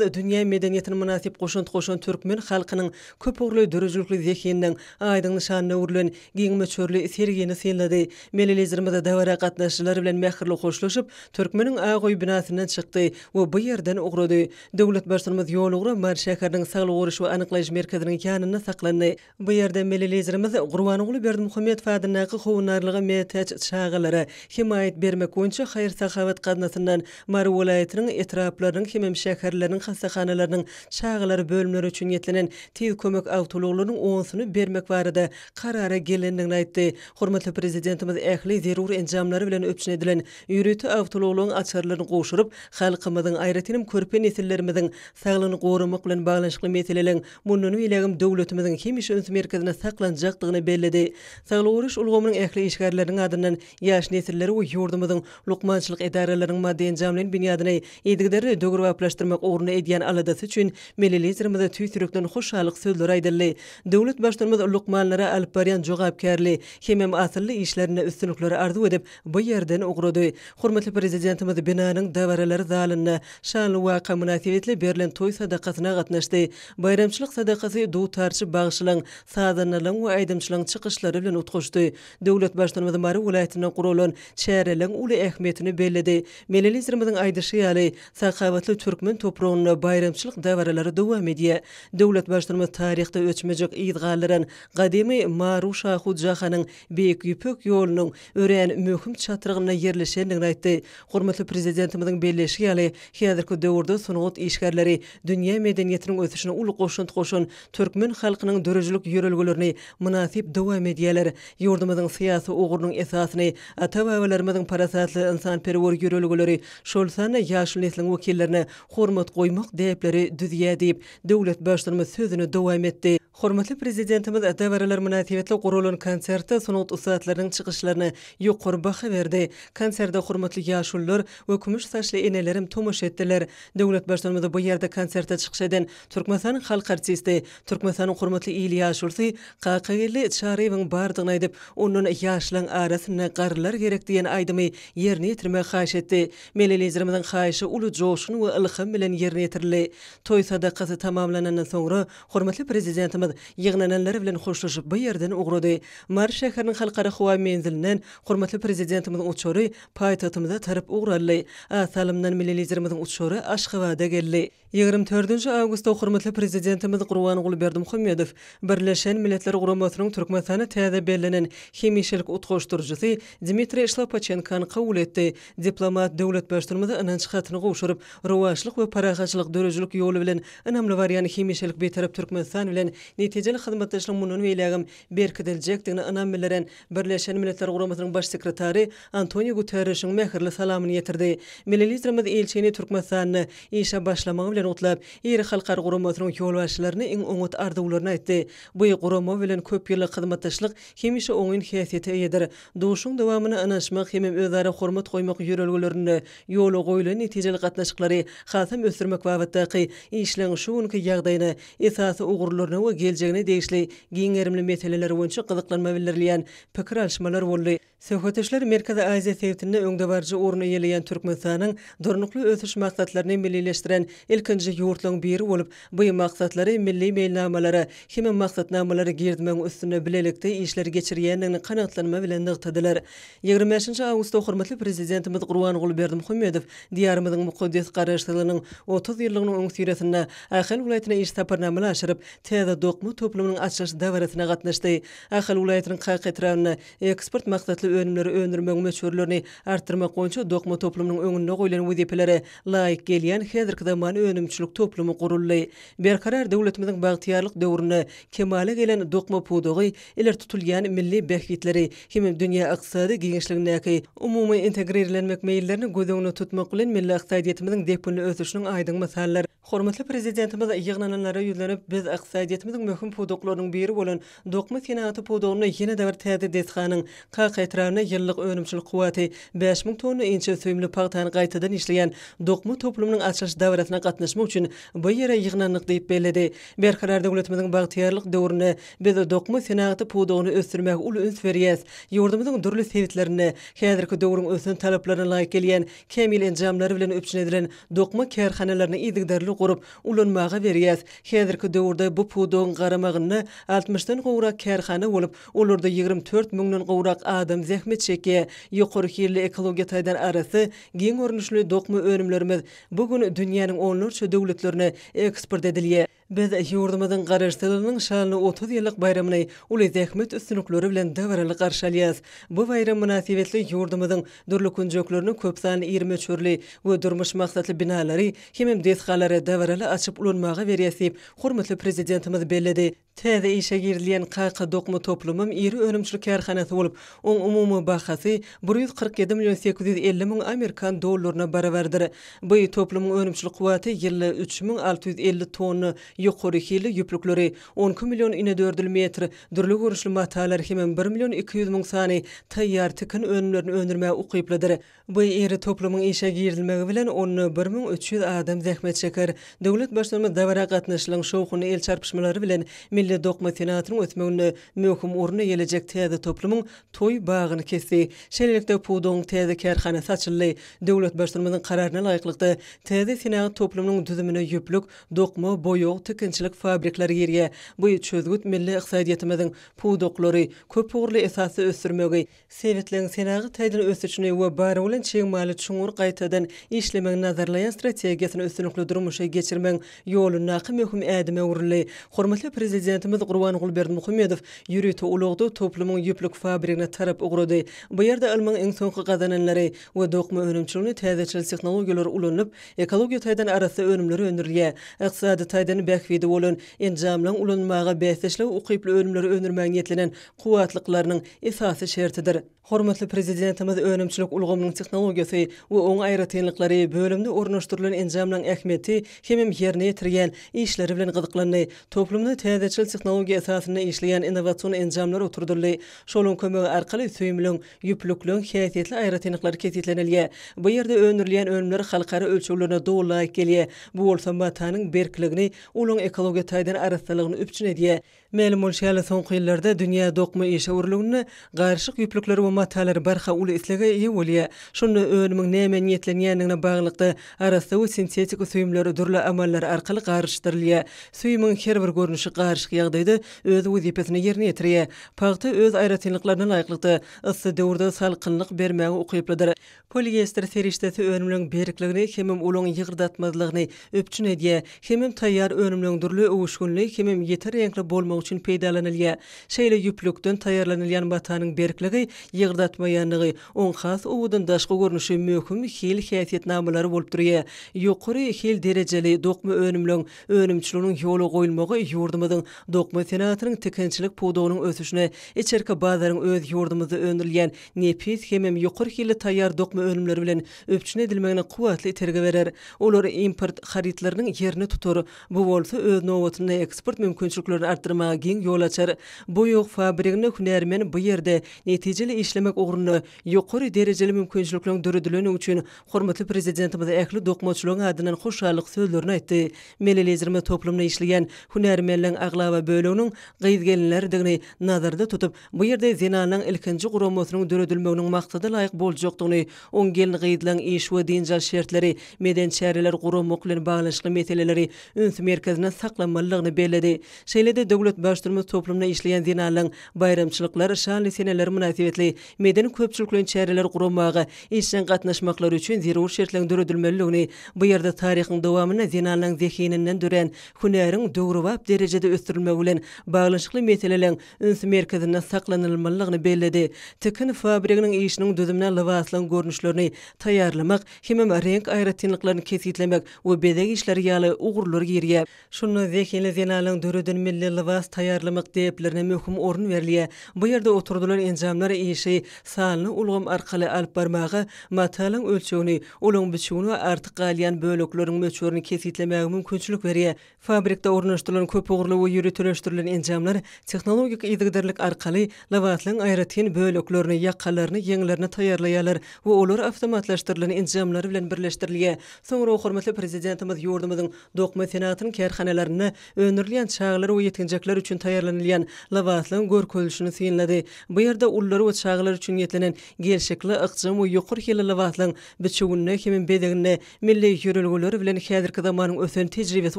dünýä medeniýetine mynasyp goşant goşan türkmen halkynyň köpugurly döredijilikli zehininiň aýdyň nyşanyna öwrülen giň möçberli sergini synlady. Milli Liderimiz dabara gatnaşyjylar bilen mähirli hoşlaşyp, Türkmeniň ak öý binasyndan çykdy we bu ýerden ugrady. Döwlet Baştutanymyz ýolugra Mary şäheriniň Saglygy goraýyş we anyklaýyş merkeziniň ýanynda saklandy. Bu ýerde Milli Liderimiz Gurbanguly Berdimuhamedow adyndaky Howandarlyga mätäç çagalara hemaýat bermek boýunça haýyr-sahawat gaznasyndan Mary welaýatynyň etraplarynyň hemem şäherleriniň hassahanalarynyň çagalar bölümleri üçin niýetlenen Tiz kömek awtoulaglarynyň onsyny bermek barada karara gelendigini aýtdy. Hormatly Prezidentimiz ähli zerur enjamlary bilen üpjün edilen ýörite awtoulaglaryň açarlaryny gowşuryp, halkymyzyň, aýratynam körpe nesillerimiziň saglygyny goramak bilen baglanyşykly meseleleň Mundan beýlägem döwletimiziň hemişe üns merkezinde saklanjakdygyny belledi. Saglygy goraýyş ulgamynyň ähli işgärleriniň adyndan ýaş nesilleri we ýurdumyzyň lukmançylyk edaralarynyň maddy-enjamlaýyn binýadyny yzygiderli döwrebaplaşdyrmak ugrunda edýän aladasy üçin Milli Liderimize tüýs ýürekden hoşallyk sözleri aýdyldy. Döwlet Baştutanymyz lukmanlara alyp barýan jogapkärli hemem asylly işlerinde üstünlikleri arzuw edip, bu ýerden ugrady. Hormatly Prezidentimiz binanyň dabaralar zalynda şanly waka mynasybetli berlen toý sadakasyna gatnaşdy. Baýramçylyk sadakasy dutarçy bagşylaň, sazandalaň we aýdymçylaň çykyşlary bilen utgaşdy. Döwlet Baştutanymyz Mary welaýatynda guralan çäreleň uly ähmiýetini belledi. Milli Liderimiziň aýdyşy ýaly, sakawatly türkmen topragynda baýramçylyk dabaralary dowam edýär. Döwlet Baştutanymyz taryhda öçmejek yz galdyran gadymy Maru-Şahu jahanyň Beýik Ýüpek ýolunyň örän möhüm çatrygynda ýerleşendigini aýtdy. Hormatly Prezidentimiziň belleýşi ýaly, häzirki döwürde sungat işgärleri dünýä medeniýetiniň ösüşine uly goşant goşan türkmen halkynyň döredijilik ýörelgelerini mynasyp dowam edýärler. Ýurdumyzyň syýasy ugrunyň esasyny ata-babalarymyzyň parasatly ynsanperwer ýörelgeleri, şol sanda ýaşyl nesliň wekillerine hormat goýmak däpleri düzýär diýip, döwlet Baştutanymyz sözüni dowam etdi. Hormatly Prezidentimiz dabaralar mynasybetli guralan konsertde sungat ussatlarynyň çykyşlaryna ýokary baha berdi. Konserde hormatly ýaşulular we kümüş saçly eneler hem tomaşa etdiler. Döwlet Baştutanymyza bu ýerde konsertde çykyş eden Türkmenistanyň halk artisti, Türkmenistanyň hormatly il ýaşulysy Kakageldi Çaryýewiň bardygyny aýdyp, ondan ýaşlaň arasynda garrylar gerek diýen aýdymy ýerine ýetirmegi haýyş etdi. Milli Liderimiziň haýyşy uly joşgun we ylham bilen ýerine ýetirildi. Toý sadakasy tamamlanandan soňra Hormatly Prezidentimiz ýygnananlar bilen hoşlaşyp bu ýerden ugrady. Mary şäheriniň Halkara howa menzilinden hormatly Prezidentimiziň uçary paýtagtymyza tarap ugur aldy. A salymdan Milli Liderimiziň uçary Aşgabada geldi. Ýigrimi dördünji awgustda hormatly Prezidentimiz Gurbanguly Berdimuhamedow Birleşen Milletler Guramasynyň Türkmenistana täze bellenen hemişelik utgaşdyryjysy Dmitriý Şlapaçenkany kabul etdi Diplomat döwletbaştnymyza ynanç hatyny gowşuryp, rowaçlyk we parahatçylyk döredijilik ýoly bilen ynamly barýan hemişelik Bitarap Türkmenistan bilen netijeli hyzmatdaşlygyň mundan beýlägem berkidiljekdigine ynam bildiren Birleşen Milletler Guramasynyň Baş sekretary Antoniu Guterrişiň mähirli salamyny ýetirdi. Milli Liderimiz ilçini Türkmenistanda işe başlamagy bilen gutlap, iri halkara guramasynyň ýolbaşçylaryna iň oňat arzuwlaryny aýtdy. Bu gurama bilen köp ýyllyk hyzmatdaşlyk hemişe oňyn häsiýete eýedir. Duşuşygyň dowamyna ynanyşmak hemem özara hormat goýmak ýörelgelerinde ýola goýlan netijeli gatnaşyklary hasam ösdürmek babatdaky işleň şu günki ýagdaýyna, esasy ugurlaryna we geljegine degişli giň gerimli meseleler boýunça gyzyklanma bildirilýän pikir alyşmalar boldy. Söhbetdeşler Merkezi Aziýa sebitinde öňdebaryjy orun eýeleýän Türkmenistanyň Durnukly ösüş maksatlaryny millileşdiren ilkinji ýurtlaryň biri bolup, Bu maksatlary milli meýilnamalara hem-de maksatnamalary girizmegiň üstünde bilelikde işler geçirýändigini kanagatlanma bilen nygtadylar. Ýigrimi bäşinji awgustda hormatly Prezidentimiz Gurbanguly Berdimuhamedow Diýarymyzyň mukaddes Garaşsyzlygynyň otuz ýyllygynyň öňüsyrasynda Ahal welaýatyna iş saparnamany aşyryp, täze dokma toplumynyň açylyş dabarasyna gatnaşdy. Ahal welaýatynyň Kaka etrabynda eksport maksatly önümleri öndürmegiň möçberlerini artdyrmak boýunça dokma toplumynyň öňünde goýlan wezipelere laýyk gelýän häzirki zaman önümçilik toplumy guruldy. Berkarar döwletimiziň bagtyýarlyk döwründe kemala gelen dokma pudagy ileri tutulýan milli bähbitleri hem-de dünýä ykdysady giňişligindäki umumy integrirlenmek meýillerini göz öňünde tutmak bilen milli ykdysadyýetimiziň depginli ösüşiniň aýdyň mysaldyr. Hormatly Prezidentimiz ýygnananlara ýüzlenip, Biz ykdysadyýetimiziň möhüm pudaklarynyň biri bolan Dokma senagaty pudagynda ýene-de bir täze desganyň Kaka etrabynda ýyllyk önümçilik kuwwaty bäş müň tonna inçe süýümli pagtany gaýtadan işleýän dokma toplumynyň açylyş dabarasyna gatnaşmak üçin bu ýere ýygnandyk diýip belledi. Berkarar döwletimiziň bagtyýarlyk döwründe biz dokma senagaty pudagyny ösdürmäge uly üns berýäs. Ýurdumyzyň dürli sebitlerinde häzirki döwrüň ösen talaplaryna laýyk gelýän kämil enjamlary bilen üpjün edilen dokma kärhanalaryny yzygiderli gurup, ulanmaga berýäs. Häzirki döwürde bu pudagyň garamagynda altmyşdan gowrak kärhana bolup, olarda ýigrimi dört müňden gowrak adam zähmet çekýär. Ýokary hilli ekologiýa taýdan arassa, giň görnüşli dokma önümlerimiz bu gün dünýäniň onlarça döwletlerine eksport edilýär. Biz ýurdumyzyň Garaşsyzlygynyň şanly otuz ýyllyk baýramyny uly zähmet üstünlikleri bilen dabaraly garşy alýarys. Bu baýram mynasybetli ýurdumyzyň dürli künjeklerine köp sanly iri möçberli we durmuş maksatly binalary Hemem desgalary dabaraly açyp ulanmaga berýäs diýip, hormatly Prezidentimiz belledi. Täze işe girizilýän Kaka dokma toplumym iri önümçilik kärhanasy bolup, oň umumy bahasy bir ýüz kyrk ýedi million sekiz ýüz elli müň amerikan dollaryna barabardyr. Bu toplumyň önümçilik kuwwaty ýylda üç müň alty ýüz elli tonna ýokary hilli ýüplükleri, on iki million inedördül metr dürli görnüşli matalary hemem bir million iki ýüz müň sany taýýar tikin önümlerini öndürmäge ukyplydyr. Bu iri toplumyň işe girizilmegi bilen onda bir müň üç ýüz adam zähmet çeker. Döwlet Baştutanymyz dabara gatnaşyjylaryň şowhunly el çarpyşmalary bilen milli dokma senatynyň ösmeginde möhüm orun eýelejek täze toplumyň toý bagyny kesdi. Şeýlelikde, pudagyň täze kärhanasy açyldy. Döwlet Baştutanymyzyň Kararyna laýyklykda, täze senagat toplumynyň düzümine ýüplük, dokma, boýag, tikinçilik fabrikleri girýär. Bu çözgüt milli ykdysadyýetimiziň pudaklary köpugurly esasda ösdürmegi, Sebitleň senagat taýdan ösüşini we bar bolan çig maly çuňňur gaýtadan işlemegi nazarlaýan strategiýasyny üstünlikli durmuşa geçirmegiň ýolundaky möhüm ädime öwrüldi. Hormatly Prezidentimiz Gurbanguly Berdimuhamedow ýörite ulagda toplumyň ýüplük fabrigine tarap ugrady. Bu ýerde ylmyň iň soňky gazananlary we dokma önümçiliginde täzeçil tehnologiýalar ulanylyp, ekologiýa taýdan arassa önümler öndürilýär. Ykdysady taýdan bähbidi bolan enjamlaryň ulanylmaga bäsdeşlige ukyply önümleri öndürmäge niýetlenen kuwwatlyklarynyň esasy şertidir. Hormatly Prezidentimiz önümçilik ulgamynyň tehnologiýasy we oň aýratynlyklary, bölümde ornaşdyrylan enjamlaryň ähmiýeti hemem ýerine ýetirýän işleri bilen gyzyklandy. Toplumda täzeçil tehnologiýa esasynda işleýän innowasion enjamlar oturdyldy. Şolaryň kömegi arkaly süýümleň, ýüplükleň, häsiýetli aýratynlyklary kesgitlenilýär. Bu ýerde öndürilýän önümler halkara ölçeglerine doly laýyk gelýär. Bu bolsa matanyň berkligini, olaryň ekologiýa taýdan arassalygyny üpjün edýär. Mälim bolşy ýaly, soňky ýyllarda dünýä dokma işewürliginde garyşyk ýüplükleri we matalar barha uly islege eýe bolýar. Şunda önümiň nämä niýetlenýändigine baglylykda, arassa we sintetiki süýümler dürli amallar arkaly garyşdyrylýar. Süýümiň her bir görnüşi garyşyk ýagdaýda öz wezipesini ýerine ýetirýär. Pagta öz aýratynlyklaryna laýyklykda, yssy döwürde salkynlyk bermäge ukyplydyr. Poliester serişdesi önümleň berkligini hemem olaň ýygyrdatmazlygyny üpjün edýär, hemem taýýar önümleň dürli öwüşginli hemem ýiti reňkli bolmagy üçin peýdalanylýar. Şeýle ýüplükden taýýarlanylýan matanyň berkligi, ýygyrdatmaýanlygy, oň has owadan daşky görnüşi möhüm hil häsiýetnamalary bolup durýar. Ýokary hil derejeli dokma önümleň önümçiliginiň ýola goýulmagy ýurdumyzyň dokma senagatynyň tikinçilik pudagynyň ösüşine, içerki bazaryň öz ýurdumyzda öndürilýän nepis hemem ýokary hilli taýýar dokma önümleri bilen üpjün edilmegine kuwwatly itergi berer. Olar import harytlarynyň ýerini tutar, bu bolsa öz nobatynda eksport mümkinçiliklerini artdyrmaga giň ýol açar. Boýag fabriginde hünärmen bu ýerde netijeli işlemek ugrunda ýokary derejeli mümkinçilikleriň döredilendigi üçin hormatly Prezidentimize ähli dokmaçylaryň adyndan hoşallyk sözlerini aýtdy. Melelejirme toplumynda işleýän hünärmenleriň aglaba böleginiň gyz-gelinlerdigini nazarda tutup, Bu ýerde zenanlaryň ilkinji guramasynyň döredilmeginiň maksada laýyk boljakdygyny, oň gelin-gyzlaryň iş we dynç alyş şertleri, medeni çäreler guramak bilen baglanyşykly meseleleri üns merkezinde saklamalydygyny belledi. Şeýle-de döwlet Baştutumymyz toplumda işleýän zenanlaryň baýramçylyklar, şanly seneler mynasybetli medeni-köpçülikleýin çäreler guramaga işjeň gatnaşmaklary üçin zerur şertleriň döredilmelidigini, bu ýerde taryhyň dowamynda zenanlaryň zehininden dörän hünäriň döwrebap derejede ösdürilmegi bilen baglanyşykly meseleleriň üns merkezinde saklanylmalydygyny belledi. Tikin fabriginiň işiniň düzümine lybaslaryň görnüşlerini taýýarlamak hemem reňk aýratynlyklaryny kesgitlemek we bezeg işleri ýaly ugurlar girýär. Şunda zehinli zenanlaryň döreden milli lybas taýýarlamak däplerine möhüm orun berilýär. Bu ýerde oturdylan enjamlar işi sanly ulgam arkaly alyp barmaga, matalyň ölçegini, olaryň biçüwini we artyk galýan bölekleriniň möçberini kesgitlemäge mümkinçilik berýär. Fabrikde ornaşdyrylan köpugurly we ýöriteleşdirilen enjamlar tehnologik yzygiderlik arkaly lybaslyň aýratyn böleklerini, ýakalaryny, ýeňlerini taýýarlaýarlar we olar awtomatlaşdyrylan enjamlar bilen birleşdirilýär. Soňra hormatly Prezidentimiz ýurdumyzyň dokma senagatynyň kärhanalarynda öndürilýän çagalar we ýetginjekler üçin taýýarlanylýan lybaslyň görkezilişini synlady. Bu ýerde ulular we çagalar üçin niýetlenen gelşikli, ykjam we ýokary hilli lybaslyň biçüwinde hemem bezeginde Milli ýörelgeler bilen häzirki zamanyň ösen tejribesi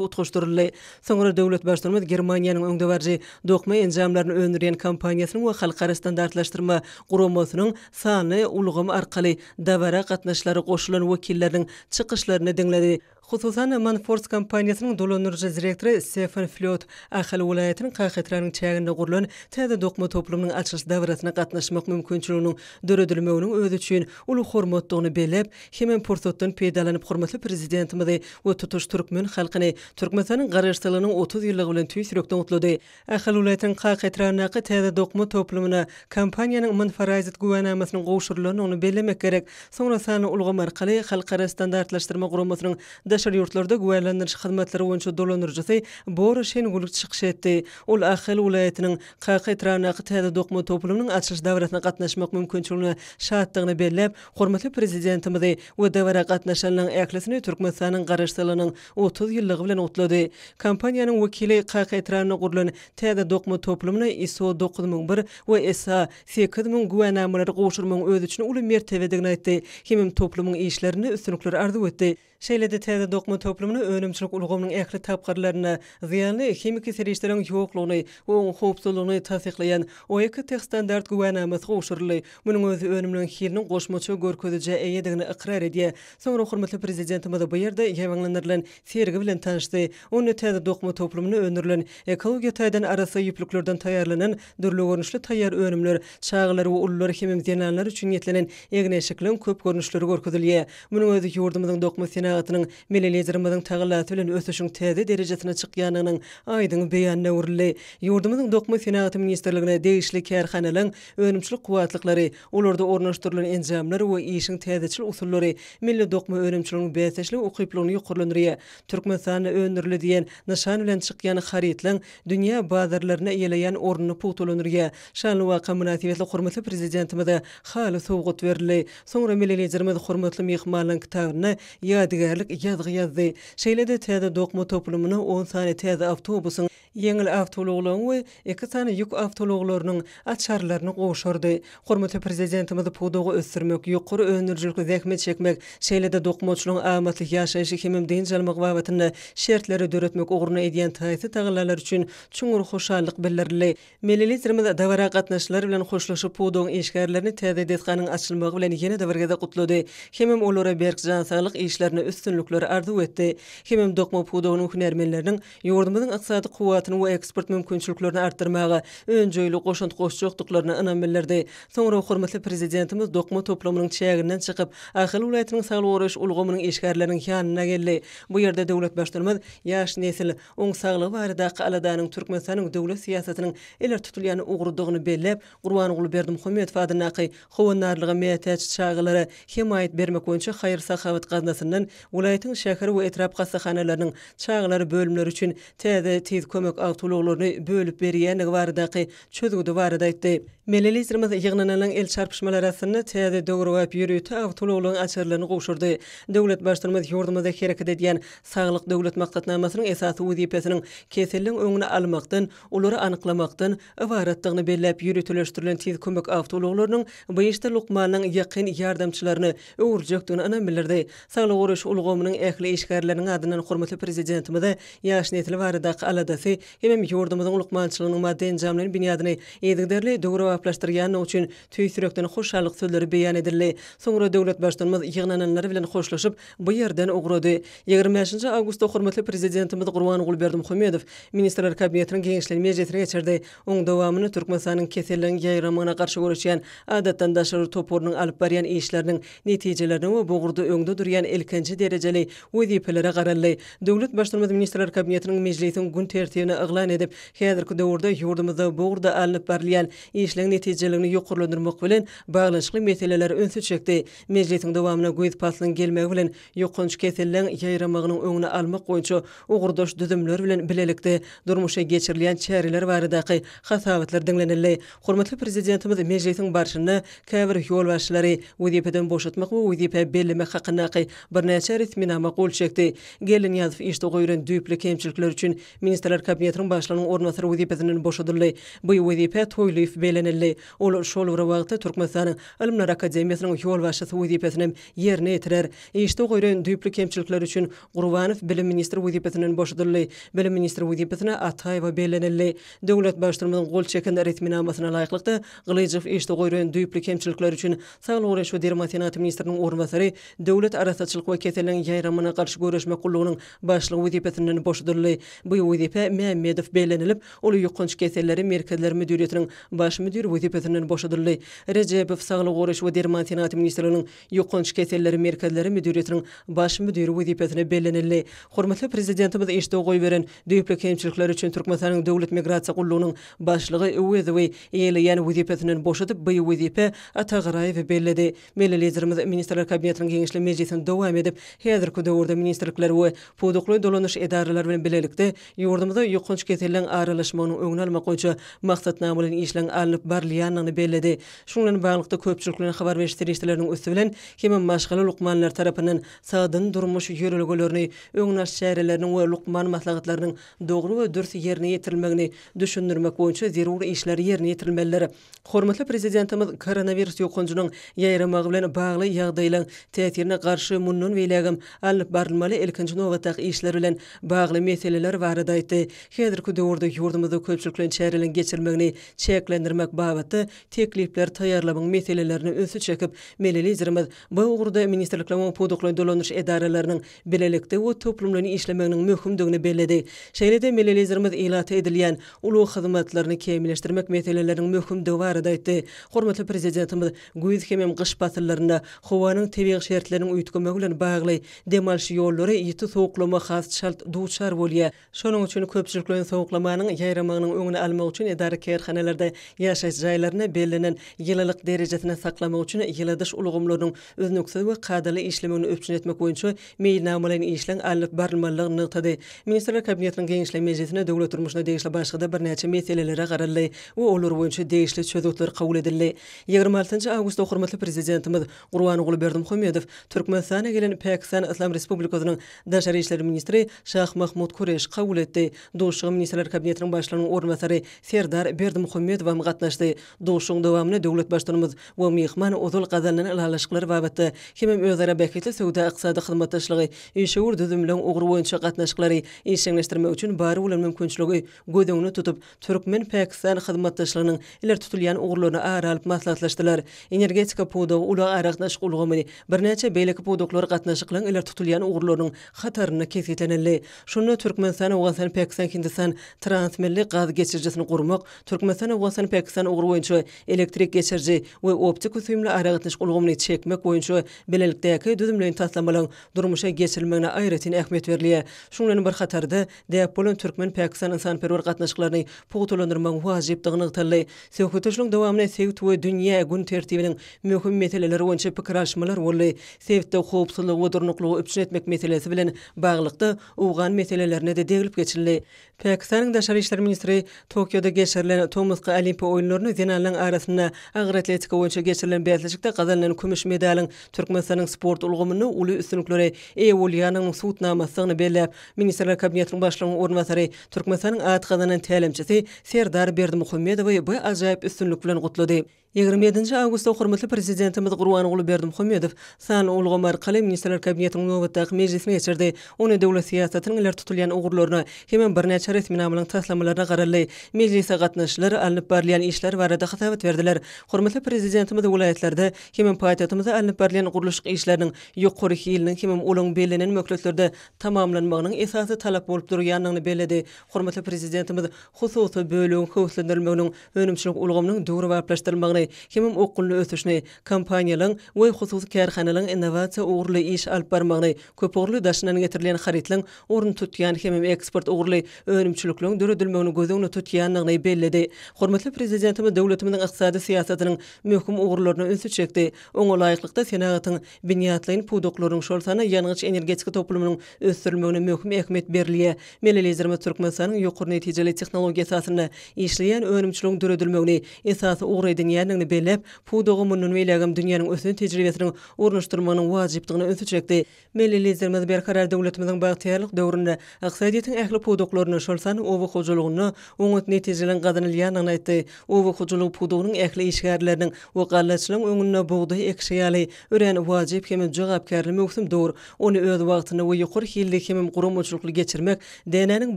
utgaşdyryldy. Soňra döwlet Baştutanymyz Germaniýanyň öňdebaryjy dokma enjamlaryny öndürýän kompaniýasynyň we Halkara standartlaşdyrma guramasynyň sanly ulgam arkaly dabara gatnaşylara goşulan wekilleriniň çykyşlaryny diňledi. Hususan, Manfors kompaniýasynyň dolandyryjy direktory Stefan Flýot Ahal welaýatynyň Kahetranyň çäginde gurlan täze dokma toplumynyň açylyş dabarasyna gatnaşmak mümkinçiliginiň döredilmeginiň özi üçin uly hormatdygyny belläp, Hemem pursatdan peýdalanyp hormatly Prezidentimizi we tutuş türkmen halkyny Türkmenistanyň Garaşsyzlygynyň otuz ýyllygy bilen tüýs ýürekden gutlady. Ahal welaýatynyň Kaka etrabyndaky täze dokma toplumyna kompaniýanyň Aman Farazit güwänamasynyň gowşurylandygyny bellemek gerek. Soňra sanly ulgam arkaly Halkara standartlaşdyrma guramasynyň daşary ýurtlarda güwälandyryş hyzmatlary boýunça dolandyryjysy Bora Şengulg çykyş etdi. Ol Ahal welaýatynyň Kaka etrabyndaky täze dokma toplumynyň açylyş dabarasyna gatnaşmak mümkinçiligine şatdygyny belläp, Hormatly Prezidentimizi we dabara gatnaşanlaň ählisini Türkmenistanyň Garaşsyzlygynyň otuz ýyllygy bilen gutlady. Kompaniýanyň wekili Kaka etrabynda gurlan täze dokma toplumyna ISO dokuz müň bir we SA sekiz müň güwänamalary gowşurmagyň öz üçin uly mertebedigini aýtdy hemem toplumyň işlerinde üstünlikleri arzuw etdi. Şeýle-de täze dokma toplumyny önümçilik ulgamynyň ähli tapgyrlarynda zyýanly himiki serişdeleriň ýoklugyny we oň howpsuzlygyny tassyklaýan OEKO-TEHstandart güwänamasy gowşuryldy. Munuň özi önümleriň hiliniň goşmaça görkezijä eýedigini ykrar edýär. Soňra hormatly Prezidentimiz bu ýerde ýaýbaňlandyrylan sergi bilen tanyşdy. Onda täze dokma toplumynda öndürilen ekologiýa taýdan arassa ýüplüklerden taýýarlanan Dürli görnüşli taýýar önümler, çagalar we ulular hemem zenanlar üçin niýetlenen egin-eşikliň köp görnüşleri görkezilýär. Munuň özi ýurdumyzyň dokma senagatynyň Milli Liderimiziň tagallasy bilen ösüşiň täze derejesine çykýandygynyň aýdyň beýanyna öwrüldi. Ýurdumyzyň Dokma senagaty ministrligine degişli kärhanalaryň önümçilik kuwwatlyklary, olarda ornaşdyrylan enjamlar we işiň täzeçil usullary milli dokma önümçiliginiň bäsdeşlige ukyplylygyny ýokarlandyrýar. Türkmenistanda öndürildi diýen nyşan bilen çykýan harytlaryň dünýä bazarlarynda eýeleýän ornuny pugtalandyrýar. Şanly waka mynasybetli hormatly Prezidentimize haly sowgat berildi. Soňra Milli Liderimiz hormatly myhmanlaryň kitabyna ýadygärlik ýazgy ýazdy. Şeýle-de täze dokma toplumyna on sany täze awtobusyň, ýeňil awtoulaglaryň we iki sany ýük awtoulaglarynyň açarlaryny gowşurdy. Hormatly Prezidentimiz pudagy ösdürmek, ýokary öndürijilikli zähmet çekmek, şeýle-de dokmaçylygyň amatly ýaşaýşy hemem dynç almagy babatynda şertleri döretmek ugrunda edýän taýsyz tagallalary üçin çuňňur hoşallyk bildirildi. Milli Liderimiz dabara gatnaşyjylar bilen hoşlaşyp, pudagyň işgärlerini täze desganyň açylmagy bilen ýene-de bir gezek gutlady hemem olara berk jan saglyk işlerinde üstünlikler arzuw etdi hemem dokma pudagynyň hünärmenleriniň ýurdumyzyň ykdysady kuwwatyny we eksport mümkinçiliklerini artdyrmaga önjeýli goşant goşjakdyklaryna ynam bildirdi. Soňra hormatly Prezidentimiz dokma toplumynyň çäginden çykyp, Ahal welaýatynyň saglygy goraýyş ulgamynyň işgärleriniň ýanyna geldi. Bu ýerde döwlet Baştutanymyz ýaş nesil, oň saglygy baradaky aladanyň Türkmenistanyň döwlet syýasatynyň ileri tutulýan ugrudygyny belläp, Gurbanguly Berdimuhamedow adyndaky Howandarlyga mätäç çagalara hemaýat bermek boýunça haýyr-sahawat gaznasyndan welaýatyň şäher we etrap hassahanalarynyň çagalar bölümleri üçin täze Tiz kömek awtoulaglaryny bölüp berýändigi baradaky çözgüdi barada aýtdy. Milli Liderimiz ýygnananlaň el çarpyşmalar arasynda täze döwrebap ýörite awtoulaglaryň açarlaryny gowşurdy. Döwlet Baştutanymyz ýurdumyzda hereket edýän Saglyk Döwlet maksatnamasynyň esasy wezipesiniň keselliň öňüni almakdan, olary anyklamakdan ybaratdygyny belläp, ýöriteleşdirilen tiz kömek awtoulaglarynyň BAEŞ-de lukmanyň ýakyn ýardamçylaryny öwürjekdigini ynam bildirdi. Saglygy goraýyş ulgamynyň ähli işgärleriniň adyndan hormatly Prezidentimize ýaş nesil baradaky aladasy hemem ýurdumyzyň lukmançylygynyň maddy-enjamlaýyn binýadyny yzygiderli döwrebaplaşdyrýandygy üçin Tüýs ýürekden hoşallyk sözleri beýan edildi. Soňra döwlet Baştutanymyz ýygnananlar bilen hoşlaşyp, bu ýerden ugrady. Ýigrimi bäşinji awgustda hormatly Prezidentimiz Gurbanguly Berdimuhamedow Ministrler Kabinetiniň giňişleýin mejlisini geçirdi. Onuň dowamynda Türkmenistanyň keselleriň ýaýramagyna garşy göreşýän Adatdan daşary toparynyň alyp barýan işleriniň netijelerine we bu ugurda öňde durýan ilkinji derejeli wezipelere garaldy. Döwlet Baştutanymyz Ministrler Kabinetiniň mejlisiň gün tertibini yglan edip, häzirki döwürde ýurdumyzda bu ugurda alnyp barylýan işleň netijeligini ýokarlandyrmak bilen baglanyşykly meselelere ünsi çekdi. Mejlisiň dowamynda güýz paslynyň gelmegi bilen ýokanç keselleň ýaýramagynyň öňüni almak boýunça ugurdaş düzümler bilen bilelikde durmuşa geçirilýän çäreler baradaky hasabatlar diňlenildi. Hormatly Prezidentimiz mejlisiň barşynda käbir ýolbaşçylary wezipeden boşatmak we wezipä bellemek hakyndaky birnäçe resminama gol çekdi. Geldinyýazow işde goýlan düýpli kemçilikler üçin Ministrler Kabinetiniň Başlygynyň orunbasary wezipesinden boşadyldy. Bu wezipä Toýlyýew bellenildi. Ol şol bir wagtda Türkmenistanyň Ylymlar akademiýasynyň ýolbaşçysy wezipesini hem ýerine ýetirer. Işde goýraýyn düýpli kemçilikleri üçin Gurbanow bilim ministri wezipesinden boşadyldy. Bilim ministri wezipesine Ataýewa bellenildi. Döwlet Baştutanymyzyň gol çeken resminamasyna laýyklykda, Gylyjow işde goýraýyn düýpli kemçilikleri üçin Saglygy goraýyş we derman senaty ministriniň orunbasary, Döwlet arassaçylyk we keselleriň ýaýramagyna garşy göreşmek gullugynyň Başlyk wezipesinden boşadyldy. Bu wezipä Mämmedow bellenilip, ol Ýokanç keselleri merkezleri müdiriýetiniň baş müdiri wezipesinden boşadyldy. Rejebow Saglygy goraýyş we derman senagaty ministrliginiň Ýokanç keselleri merkezleri müdiriýetiniň baş müdiri wezipesine bellenildi. Hormatly Prezidentimiz işde goýberen düýpli kemçilikleri üçin Türkmenistanyň Döwlet migrasiýa gullugynyň başlygy Öwezowy eýeleýän wezipesinden boşadyp, bu wezipä Atagaraýewi belledi. Milli Liderimiz Ministrler Kabinetiniň giňişli mejlisini dowam edip, häzirki döwürde ministrlikler we pudakly dolanyş edaralary bilen bilelikde ýurdumyzda ýokanç keselleriň aralaşmagynyň öňüni almak boýunça maksatnamalaýyn işleriň alnyp barylýandygyny belledi. Şunuň bilen baglylykda, köpçülik bilen habar beriş serişdeleriniň üsti bilen hem maşgala lukmanlary tarapyndan sagdyn durmuş ýörelgelerini öňüni alyş çäreleriniň we lukman maslahatlarynyň dogry we dürs ýerine ýetirilmegini düşündirmek boýunça zerur işler ýerine ýetirilmelidir. Hormatly Prezidentimiz koronawirus ýokanjynyň ýaýramagy bilen bagly ýagdaýlaryň täsirine garşy mundan beýlägem alnyp barylmaly ilkinji nobatdaky işler bilen bagly meseleler barada aýtdy. Häzirki döwürde ýurdumyzda köpçülikleýin çäreleriň geçirilmegini çäklendirmek babatda teklipler taýýarlamagyň meselelerine ünsi çekip, Milli Liderimiz bu ugurda ministrlikleriň we pudaklaýyn dolanyş edaralarynyň bilelikde we toplumlaýyn işlemeginiň möhümdigini belledi. Şeýle-de milli Liderimiz ilata edilýän ulag hyzmatlaryny kämilleşdirmek meseleleriniň möhümdigi barada aýtdy. Hormatly Prezidentimiz güýz hemem gyş pasyllarynda howanyň tebigy şertleriniň üýtgemegi bilen bagly dem alyş ýollary ýiti sowuklama has çalt duçar bolýar, Şonuň üçin köpçülikleýin sowuklamanyň ýaýramagynyň öňüni almak üçin edara-kärhanalarda ýaşaýyş jaýlaryny bellenen ýylylyk derejesinde saklamak üçin ýyladyş ulgamlarynyň üznüksiz we kadaly işlemegini üpjün etmek boýunça meýilnamalaýyn işleň alnyp barylmalydygyny nygtady. Ministrler Kabinetiniň Geňeşleýin mejlisinde döwlet durmuşyna degişli başga-da birnäçe meselelere garaldy we olar boýunça degişli çözgütler kabul edildi. Ýigrimi altynjy awgustda hormatly Prezidentimiz Gurbanguly Berdimuhamedow Türkmenistana gelen Pakistan Yslam Respublikasynyň Daşary işler ministri Şah Mahmud Kureşi kabul etdi. Duşuşyga Ministrler Kabinetiniň Başlygynyň orunbasary Serdar Berdimuhamedow hem gatnaşdy. Duşuşygyň dowamynda döwlet Baştutanymyz we myhman ozal gazanylan ylalaşyklar babatda hemem özara bähbitli söwda-ykdysady hyzmatdaşlygy, işewür düzümleň ugry boýunça gatnaşyklary işjeňleşdirmek üçin bar bolan mümkinçiligi göz öňüne tutup, türkmen-pakistan hyzmatdaşlygynyň ileri tutulýan ugurlaryny ara alyp maslahatlaşdylar. Energetika pudagy, ulag-aragatnaşyk ulgamy, birnäçe beýleki pudaklar gatnaşyklaryň ileri tutulýan ugurlarynyň hatarynda kesgitlenildi. Şunda Türkmenistan-Owganystan-Pakistan-Hindistan transmilli gaz geçirijisini gurmak, Türkmenistan-Owganystan-Pakistan ugry boýunça elektrik geçiriji we optiko-süýümli aragatnaşyk ulgamyny çekmek boýunça bilelikdäki düzümleýin taslamalaryň durmuşa geçirilmegine aýratyn ähmiýet berilýär. Şunuň bilen bir hatarda, Däp bolan türkmen-pakistan ynsanperwer gatnaşyklaryny pugtalandyrmagyň wajypdygy nygtaldy. Söhbetdeşligiň dowamynda sebit we dünýä gün tertibiniň möhüm meseleleri boýunça pikir alyşmalar boldy. Sebitde howpsuzlygy we durnuklygy üpjün etmek meselesi bilen baglylykda, owgan meselelerine-de deglip geçildi. Pakistanyň daşary işler ministri Tokioda geçirilen tomusky Olimpiýa oýunlaryny zenanlaryň arasynda agyr atletika boýunça geçirilen bäsleşikde gazanylan kümüş medalyň Türkmenistanyň sport ulgamynda uly üstünliklere eýe bolýandygynyň subutnamasydygyny belläp, Ministrler Kabinetiniň Başlygynyň orunbasary Türkmenistanyň at gazanan tälimçisi Serdar Berdimuhamedowy bu ajaýyp üstünlik bilen gutlady. Ýigrimi ýedinji awgustda hormatly Prezidentimiz Gurbanguly Berdimuhamedow sanly ulgam arkaly Ministrler Kabinetiniň nobatdaky mejlisini geçirdi, onda döwlet syýasatynyň ileri tutulýan ugurlaryna hemem birnäçe resminamalaryň taslamalaryna garaldy. Mejlise gatnaşyjylar alnyp barylýan işler barada hasabat berdiler. Hormatly Prezidentimiz welaýatlarda hemem paýtagtymyzda alnyp barylýan gurluşyk işleriniň ýokary hiliniň hemem olaryň bellenen möhletlerde tamamlanmagynyň esasy talap bolup durýandygyny belledi. Hormatly Prezidentimiz hususy bölegiň höweslendirilmeginiň, önümçilik ulgamynyň döwrebaplaşdyrylmagyny, hemem okgunly ösüşini, kompaniýalaryň we hususy kärhanalaryň innowasiýa ugurly iş alyp barmagyny, köpugurly daşyndan getirilýän harytlaryň ornuny tutýan hemem eksport ugurly önümçilikleriň döredilmegini göz öňünde tutýandygyny belledi. Hormatly Prezidentimiz döwletimiziň ykdysady syýasatynyň möhüm ugurlaryna ünsi çekdi, oňa laýyklykda senagatyň Binýatlaýyn pudaklaryň, şol sanda ýangyç-energetika toplumynyň ösdürilmegine möhüm ähmiýet berilýär. Milli Liderimiz Türkmenistanyň ýokary netijeli tehnologiýa esasynda işleýän önümçiligiň döredilmegini esasy ugur edinýändigini belläp, pudaga mundan beýlägem dünýäniň ösen tejribesiniň ornaşdyrylmagynyň wajypdygyna ünsi çekdi. Milli Liderimiz Berkarar döwletimiziň bagtyýarlyk döwründe ykdysadyýetiň ähli pudaklarynda, şol sanda oba hojalygynda oňat netijleriň gazanylýandygyny aýtdy. Oba hojalygy pudagynyň ähli işgärleriniň we gallaçylaryň öňünde bugdaý ekişi ýaly örän wajyp hem-de jogapkärli möwsüm dur. Ony öz wagtynda we ýokary hilli hemem guramaçylykly geçirmek dänäniň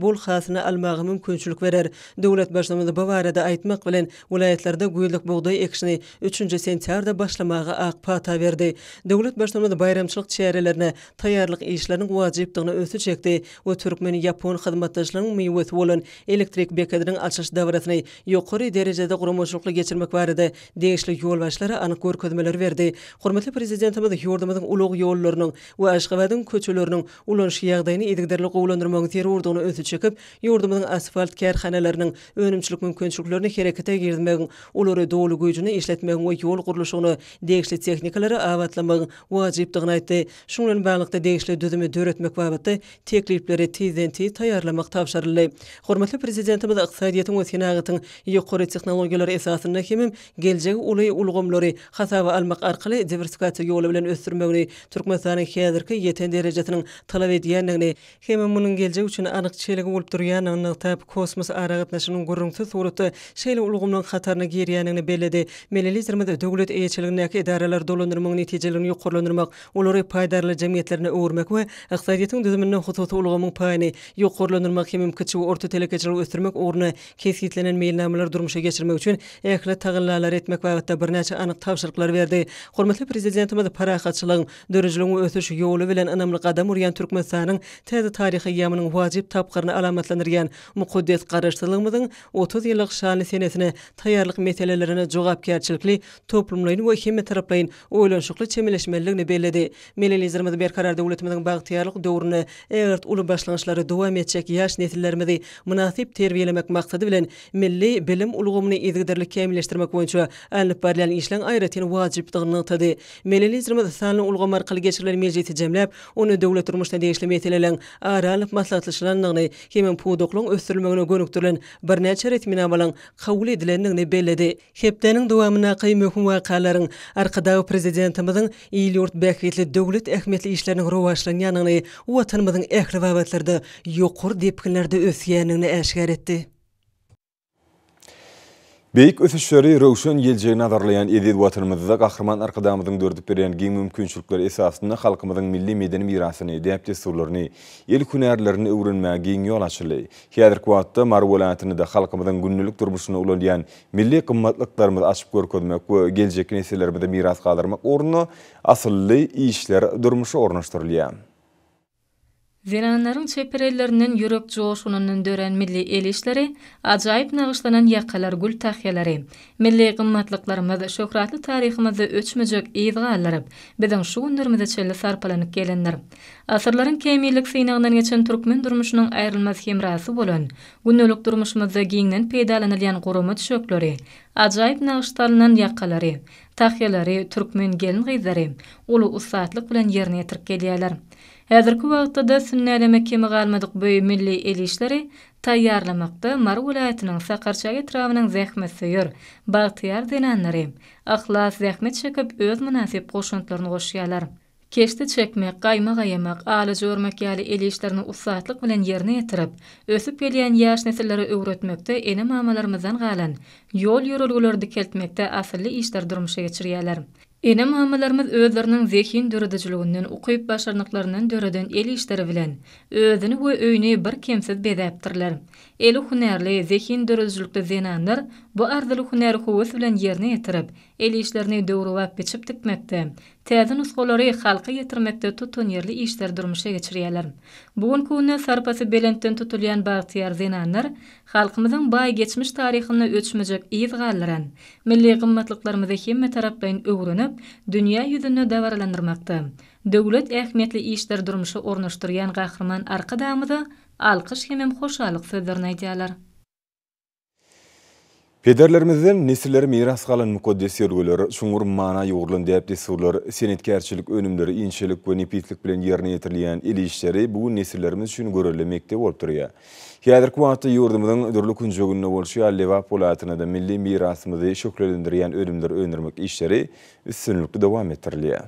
bol hasylyny almaga mümkinçilik berer. Döwlet Baştutanymyz bu barada aýtmak bilen, welaýatlarda güýzlük bugdaý ekişini üçünji sentýarda başlamaga ak pata berdi. Döwlet Baştutanymyz baýramçylyk çärelerine taýýarlyk işleriniň wajypdygyna ünsi çekdi we türkmen-ýapon hyzmatdaşlygynyň miwesi bolan Elektrik bekediniň açyş dabarasyny ýokary derejede guramaçylykly geçirmek barada degişli ýolbaşçylara anyk görkezmeleri berdi. Hormatly Prezidentimiz ýurdumyzyň ulag ýollarynyň we Aşgabadyň köçeleriniň ulanyş ýagdaýyny yzygiderli gowulandyrmagyň zerurdygyna ünsi çekip, ýurdumyzyň asfalt kärhanalarynyň önümçilik mümkinçiliklerini herekete girizmegiň, olary doly güýjünde işletmegiň we ýol gurluşygyna degişli tehnikalary abatlamagyň wajypdygyny aýtdy. Şunuň bilen baglylykda, degişli düzümi döretmek babatda teklipleri tizden-tiz taýýarlamak tabşyryldy. Hormatly Prezidentimiz ykdysadyýetiň we senagatyň ýokary tehnologiýalary esasynda hemem geljegi uly ulgamlary hasaba almak arkaly diwersikasiýa ýoly bilen ösdürmegini, Türkmenistanyň häzirki ýeten derejesiniň talap edýändigini, hemem munuň geljek üçin anyk çelgi bolup durýandygyny nygtap, kosmos aragatnaşygynyň gürrüňsiz suratda şeýle ulgamlaryň hataryna girýändigini belledi. Milli Liderimiz döwlet eýeçiligindäki edaralary dolandyrmagyň netijeliligini ýokarlandyrmak, olary paýdarlar jemgyýetlerine öwürmek we ykdysadyýetiň düzüminde hususy ulgamyň paýyny ýokarlandyrmak hem-hem kiçi we orta telekeçiligi ösdürmek ugrunda kesgitlenen meýilnamalary durmuşa geçirmek üçin ähli tagallalary etmek babatda birnäçe anyk tabşyryklary berdi. Hormatly Prezidentimiz parahatçylygyň, dörüjiligiň we ösüş ýoly bilen ynamly gadam urýan Türkmenistanyň täze taryhy eýýamynyň wajyp tapgyryny alamatlandyrýan mukaddes Garaşsyzlygymyzyň otuz ýyllyk şanly senesine taýýarlyk meselelerine jogapkärçilikli, toplumlaýyn we hemmetaraplaýyn oýlanyşykly çemeleşmelidigini belledi. Milli Liderimiz Berkarar döwletimiziň bagtyýarlyk döwründe ägirt uly başlangyçlary dowam etjek ýaş nesillerimizi mynasyp terbiýelemek maksady bilen, milli bilim ulgamyny yzygiderli kämilleşdirmek boýunça alnyp barylýan işleň aýratyn wajypdygyny nygtady. Milli Liderimiz sanly ulgam arkaly geçirilen mejlisi jemläp, onda döwlet durmuşyna degişli meseleleň ara alnyp maslahatlaşylandygyny hemem pudaklygyň ösdürilmegine gönükdirilen birnäçe resminamalaryň kabul edilendigini belledi. Hepdäniň dowamyndaky möhüm wakalaryň Arkadag Prezidentimiziň il-ýurt bähbitli döwlet ähmiýetli işleriniň rowaçlanýandygyny, Watanymyzyň ähli babatlarda ýokary depginlerde ösýändigini äşgär etdi. Beýik ösüşleri, röwşen geljegi nazarlaýan eziz Watanymyzda Gahryman Arkadagymyzyň döredip berýän giň mümkinçilikler esasynda halkymyzyň milli medeni mirasyny, däp-dessurlaryny, el hünärlerini öwrenmäge giň ýol açyldy. Häzirki wagtda Mary welaýatynda-da halkymyzyň gündelik durmuşynda ulalýan Milli gymmatlyklarymyzy açyp görkezmek we geljekki nesillerimize miras galdyrmak ugrunda asylly işler durmuşa ornaşdyrylýar. Zenanlaryň çeper ellerinden ýürek joşgunyndan dörän milli el işleri, ajaýyp nagyşlanan ýakalar gül tahýalary, milli gymmatlyklarymyz şöhratly taryhymyzda öçmejek yz galdyryp, biziň şu günlerimize çenli sarpalanyp gelendir. Asyrlaryň kämillik synagyndan geçen türkmen durmuşynyň aýrylmaz hemrasy bolan Gündelik durmuşymyzda giňden peýdalanylýan gurama düşekleri, ajaýyp nagyş salnan ýakalary, tahýalary türkmen gelin-gyzlary uly ussatlyk bilen ýerine ýetirip gelýärler. Häzirki wagtda-da sünnäleme kemi galmadyk bu milli el işleri taýýarlamakda Mary welaýatynyň Sakarçäge etrabynyň zähmetsöýer, bagtyýar zenanlary yhlas zähmet çekip, öz mynasyp goşantlaryny goşýarlar. Keşde çekmek, gaýma gaýamak, alyjy örmek ýaly el işlerini ussatlyk bilen ýerine ýetirip, ösüp gelýän ýaş nesillere öwretmekde ene-mamalarymyzdan galan ýol-ýörelgeleri dikeltmekde asylly işleri durmuşa geçirýärler. Ene-mamalarymyz özleriniň zehin döredijiliginden, ukyp-başarnyklaryndan döreden el işleri bilen özüni we öýüni birkemsiz bezäpdirler. Eli hünärli, zehin döredijilikli zenanlar bu arzyly hünäri höwes bilen ýerine ýetirip, el işlerini döwrebap biçip tikmekde, täze nusgalary halka ýetirmekde tutanýerli işleri durmuşa geçirýärler. Bu günki günde sarpasy belentden tutulýan bagtyýar zenanlar halkymyzyň baý geçmiş taryhynda öçmejek yz galdyran milli gymmatlyklarymyzy hemmetaraplaýyn öwrenip, dünýä ýüzünde dabaralandyrmakda döwlet ähmiýetli işleri durmuşa ornaşdyrýan Gahryman Arkadagymyza alkyş hemem hoşallyk sözlerini aýdýarlar. Pederlerimizden nesillere miras galan mukaddes ýörgüler, çuňňur mana ýugrulan däp-dessurlar, senetkärçilik önümleri inçelik we nepislik bilen ýerine ýetirilýän el işleri bu gün nesillerimiz üçin görelde mekdep bolup durýar. Häzirki wagtda ýurdumyzyň dürli künjeginde bolşy ýaly Lebap welaýatynda-da milli mirasymyzy şöhlelendirýän önümleri öndürmek işleri üstünlikli dowam etdirilýär.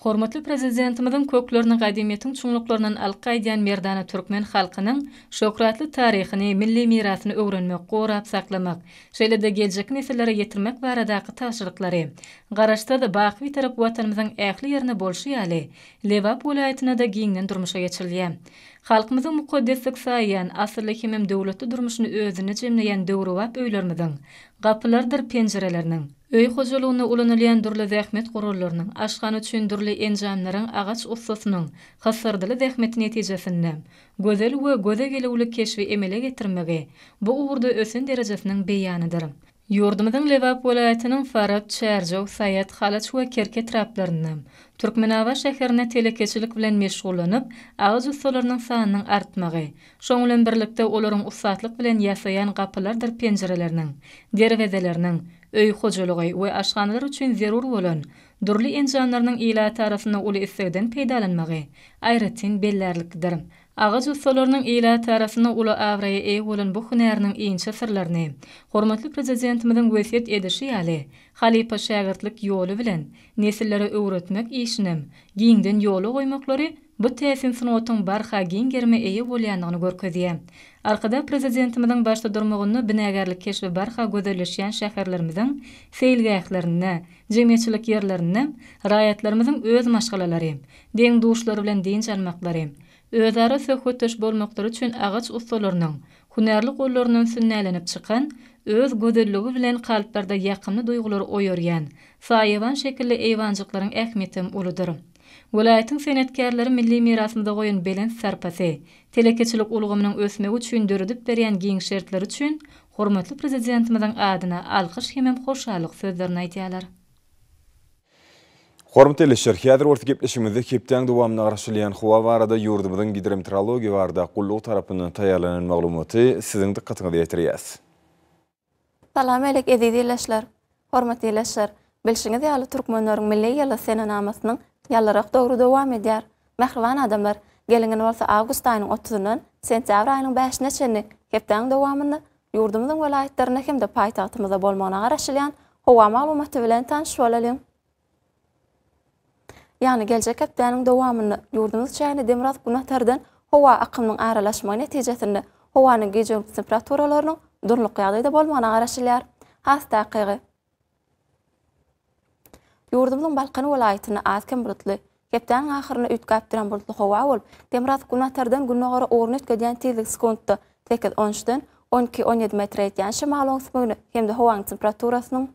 Hormatly Prezidentimiziň köklerini gadymyýetiň çuňluklaryndan alyp gaýdýan merdana türkmen halkynyň şöhratly taryhyny, milli mirasyny öwrenmek, gorap saklamak, şeýle-de geljekki nesillere ýetirmek baradaky tabşyryklary Garaşsyz, baky Bitarap Watanymyzyň ähli ýerinde bolşy ýaly, Lebap welaýatynda-da giňden durmuşa geçirilýär. Halkymyzyň mukaddeslik saýýan, asylly hemem döwletli durmuşyny özünde jemleýän döwrebap öýlerimiziň gapylarydyr penjireleriniň, Öý hojalygynda ulanylýan dürli zähmet gurallarynyň, aşhana üçin dürli enjamlaryň agaç ussasynyň hysyrdyly zähmeti netijesinde gözel we göze gelüwli keşbi emele getirmegi bu ugurda ösen derejesiniň beýanydyr. Ýurdumyzyň Lebap welaýatynyň Farap, Çärjew, Saýat, Halaç we Kerki etraplarynda, Türkmenabat şäherinde telekeçilik bilen meşgullanyp, agaç ussalarynyň sanynyň artmagy, Şoň bilen birlikde olaryň ussatlyk bilen ýasaýan gapylardyr penjireleriniň, derwezeleriniň, öý hojalygy we aşhanalar üçin zerur bolan dürli enjamlarynyň ilat arasynda uly islegden peýdalanmagy aýratyn bellärliklidir. Agaç ussalarynyň ilat arasynda uly abraýa eýe bolan bu hünäriniň inçe syrlaryny hormatly Prezidentimiziň wesýet edişi ýaly, halypa-şägirtlik ýoly bilen nesillere öwretmek işinem giňden ýola goýmaklary Bu täsin sungatyň barha giň gerime eýe bolýandygyny görkezýär. Arkadag Prezidentimiziň başda durmagynda binagärlik keşbi barha gözelleşýän şäherlerimiziň seýilgählerinde, jemgyýetçilik ýerlerinde raýatlarymyzyň öz maşgalalary, deň-duşlary bilen dynç almaklary, özara söhbetdeş bolmaklary üçin agaç ussalarynyň hünärli gollaryndan sünnälenip çykan, öz gözelligi bilen kalplarda ýakymly duýgulary oýarýan saýawan şekilli eýwanjyklaryň ähmiýeti hem uludyr. Welaýatyň senetkärleri milli mirasymyza goýan belent sarpasy, telekeçilik ulgamynyň ösmegi üçin döredip berýän giň şertleri üçin hormatly Prezidentimiziň adyna alkyş hemem hoşallyk sözlerini aýdýarlar. Hormatly ildeşler, häzir bolsa gepleşigimizde hepdäň dowamynda garaşylýan howa barada ýurdumyzyň Gidrometeorologiýa barada gullugy tarapyndan taýýarlanan maglumaty siziň dykgatyňyza ýetirýäs. Salam äleýk eziz ildeşler! Hormatly ildeşler! Bilşiňiz ýaly Türkmenleriň milli ýyly senenamasynyň ýalyrak döwri dowam edýär. Mähriban adamlar! Geliň indi bolsa awgust aýynyň otuzyndan sentýabr aýynyň bäşine çenli hepdäň dowamynda ýurdumyzyň welaýatlarynda hem-de paýtagtymyzda bolmagyna garaşylýan howa maglumaty bilen tanyş bolalyň. Ýagny geljek hepdäniň dowamynda ýurdumyz çäginde demirgazyk günbatardan howa akymynyň aralaşmagy netijesinde howanyň gije-gündiz temperaturalarynyň durnukly ýagdaýda bolmagyna garaşylýar. Has takygy, ýurdumyzyň Balkan welaýatynda az-kem bulutly, Hepdäniň ahyrynda üýtgäp duran bulutly howa bolup, demirgazyk günbatardan gündogara ugruny üýtgedýän tizligi sekuntda sekiz, on üçden on iki, on ýedi metre ýetýän şemal oňsmygine hem-de howanyň temperaturasynyň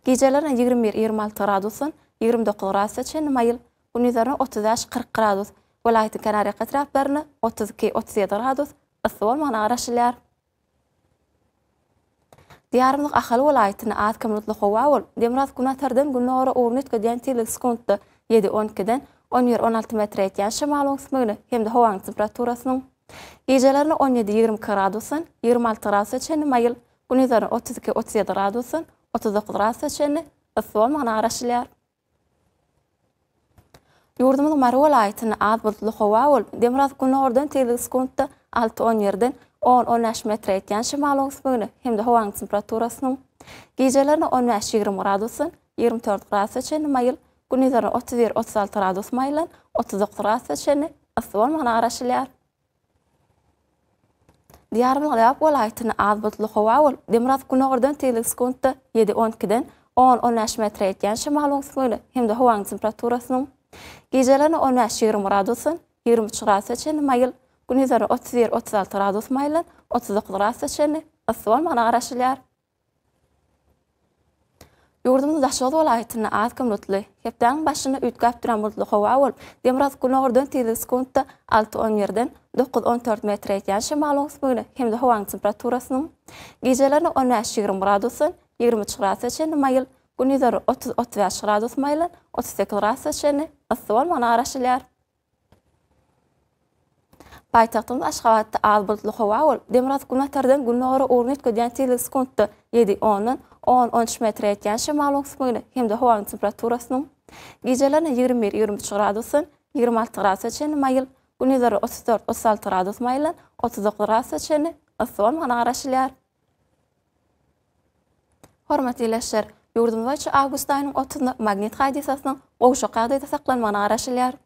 gijelerine ýigrimi bir, ýigrimi alty gradusdan ýigrimi dokuz gradusa çenli maýyl, gündizlerine otuz bäş, kyrk gradus, welaýatyň kenarýaka etraplarynda otuz iki, otuz ýedi gradus yssy bolmagyna garaşylýar. Diýarymyzyň Ahal welaýatyny az kömürtli howa bolup, demirgazyk günortadan gündogara ugruny üýtgedýän tirligi sekuntda ýedi, on ikiden on bir, on alty metre ýetýän şemal oň sümügini hem-de howanyň temperaturasynyň gijelerine on ýedi, ýigrimi iki gradusdan ýigrimi alty gradusa çenli maýyl, gündizlerine otuz iki, otuz ýedi gradusdan otuz dokuz gradusa çenli yssy bolmagyna garaşylýar. Ýurdumyzyň Mary welaýatynda az bulutly howa bolup, demirgazyk günordan tizligi sekuntda alty-on ýerden on-on bäş metre ýetýän şemal öwüsmegine hem-de howanyň temperaturasynyň gijelerine on bäş-ýigrimi gradusdan ýigrimi dört gradusa çenli maýyl, gündizlerine otuz bir-otuz alty gradus maýyldan otuz dokuz gradusa çenli yssy bolmagyna garaşylýar. Diýarymyzyň Lebap welaýatynda az bulutly howa bolup, demirgazyk-gündogardan tizligi sekuntda ýedi, on ikiden on, on bäş metre ýetýän şemal oňsun gelip, hem-de howanyň temperaturasynyň gijelerine on bäş, ýigrimi gradusdan ýigrimi üç gradusa çenli maýyl, gündizlerine otuz bir, otuz alty gradus maýyldan otuz dokuz gradusa çenli yssy bolmagyna garaşylýar. Ýurdumyzyň Daşoguz welaýatynda az gün bulutly, hepdäniň başynda üýtgäp duran bulutly howa bolup, demirgazyk-gündogardan tizligi sekuntda alty-on birden dokuz-on dört metre ýetýän şemalyň ösmegine hem-de howanyň temperaturasynyň gijelerine on bäş-ýigrimi gradusdan ýigrimi üç gradusa çenli maýyl, gündizleri otuz-otuz bäş gradus maýylan otuz sekiz gradusa çenli yssy bolmagyna garaşylýar. Paýtagtymyz Aşgabatda az bulutly howa bolup, demirgazyk günortadan gündogara ugruny üýtgedýän tizligi sekuntda ýedi, ondan on, on üç metre ýetýän şemal öňsükmegine hem-de howanyň temperaturasynyň gijelerine ýigrimi bir, ýigrimi üç gradusdan ýigrimi alty gradusa çenli maýyl, gündizleri otuz dört, otuz alty gradus maýyldan otuz dokuz gradusa çenli yssy bolmagyna garaşylýar. Hormatly ildeşler! Ýurdumyz boýunça awgust aýynyň otuzynda Magnit hadysasynyň gowşak ýagdaýda saklanmagyna garaşylýar.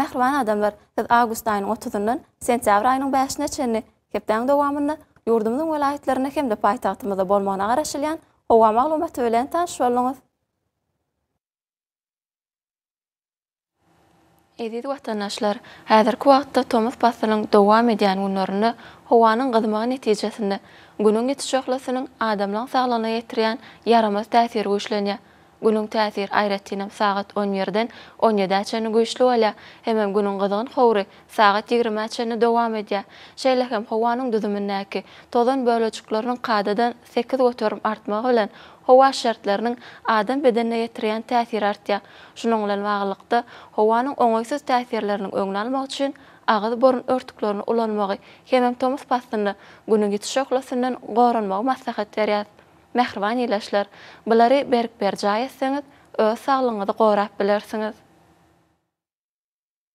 Mähriban adamlar, siz awgust aýynyň otuzyndan sentýabr aýynyň bäşine çenli hepdäň dowamynda ýurdumyzyň welaýatlarynda hem-de paýtagtymyzda bolmagyna garaşylýan howa maglumaty bilen tanyş bolduňyz. Eziz watandaşlar, häzirki wagtda tomus paslynyň dowam edýän günlerinde howanyň gyzmagy netijesinde Günüň ýiti şöhlesiniň adamlaň saglygyna ýetirýän ýaramaz täsiri güýçlenýär. Günüň täsiri aýratynam sagat on birden on ýedä çenli güýçli bolýar hemem Günüň gyzgyn howry sagat ýigrimä çenli dowam edýär. Şeýle hem howanyň düzümindäki tozan bölejikleriniň kadadan Sekiz göterim artmagy bilen howa şertleriniň adam bedenine ýetirýän täsiri artýar. Şunuň bilen baglylykda, howanyň oňaýsyz täsirleriniň öňüni almak üçin agyz-burun örtüklerini ulanmagy hemem tomus paslynda Günüň ýiti şöhlesinden goranmagy maslahat berýäs. Mähriban ildeşler, bulary berk berjaý etseňiz, öz saglygyňyzy gorap bilersiňiz.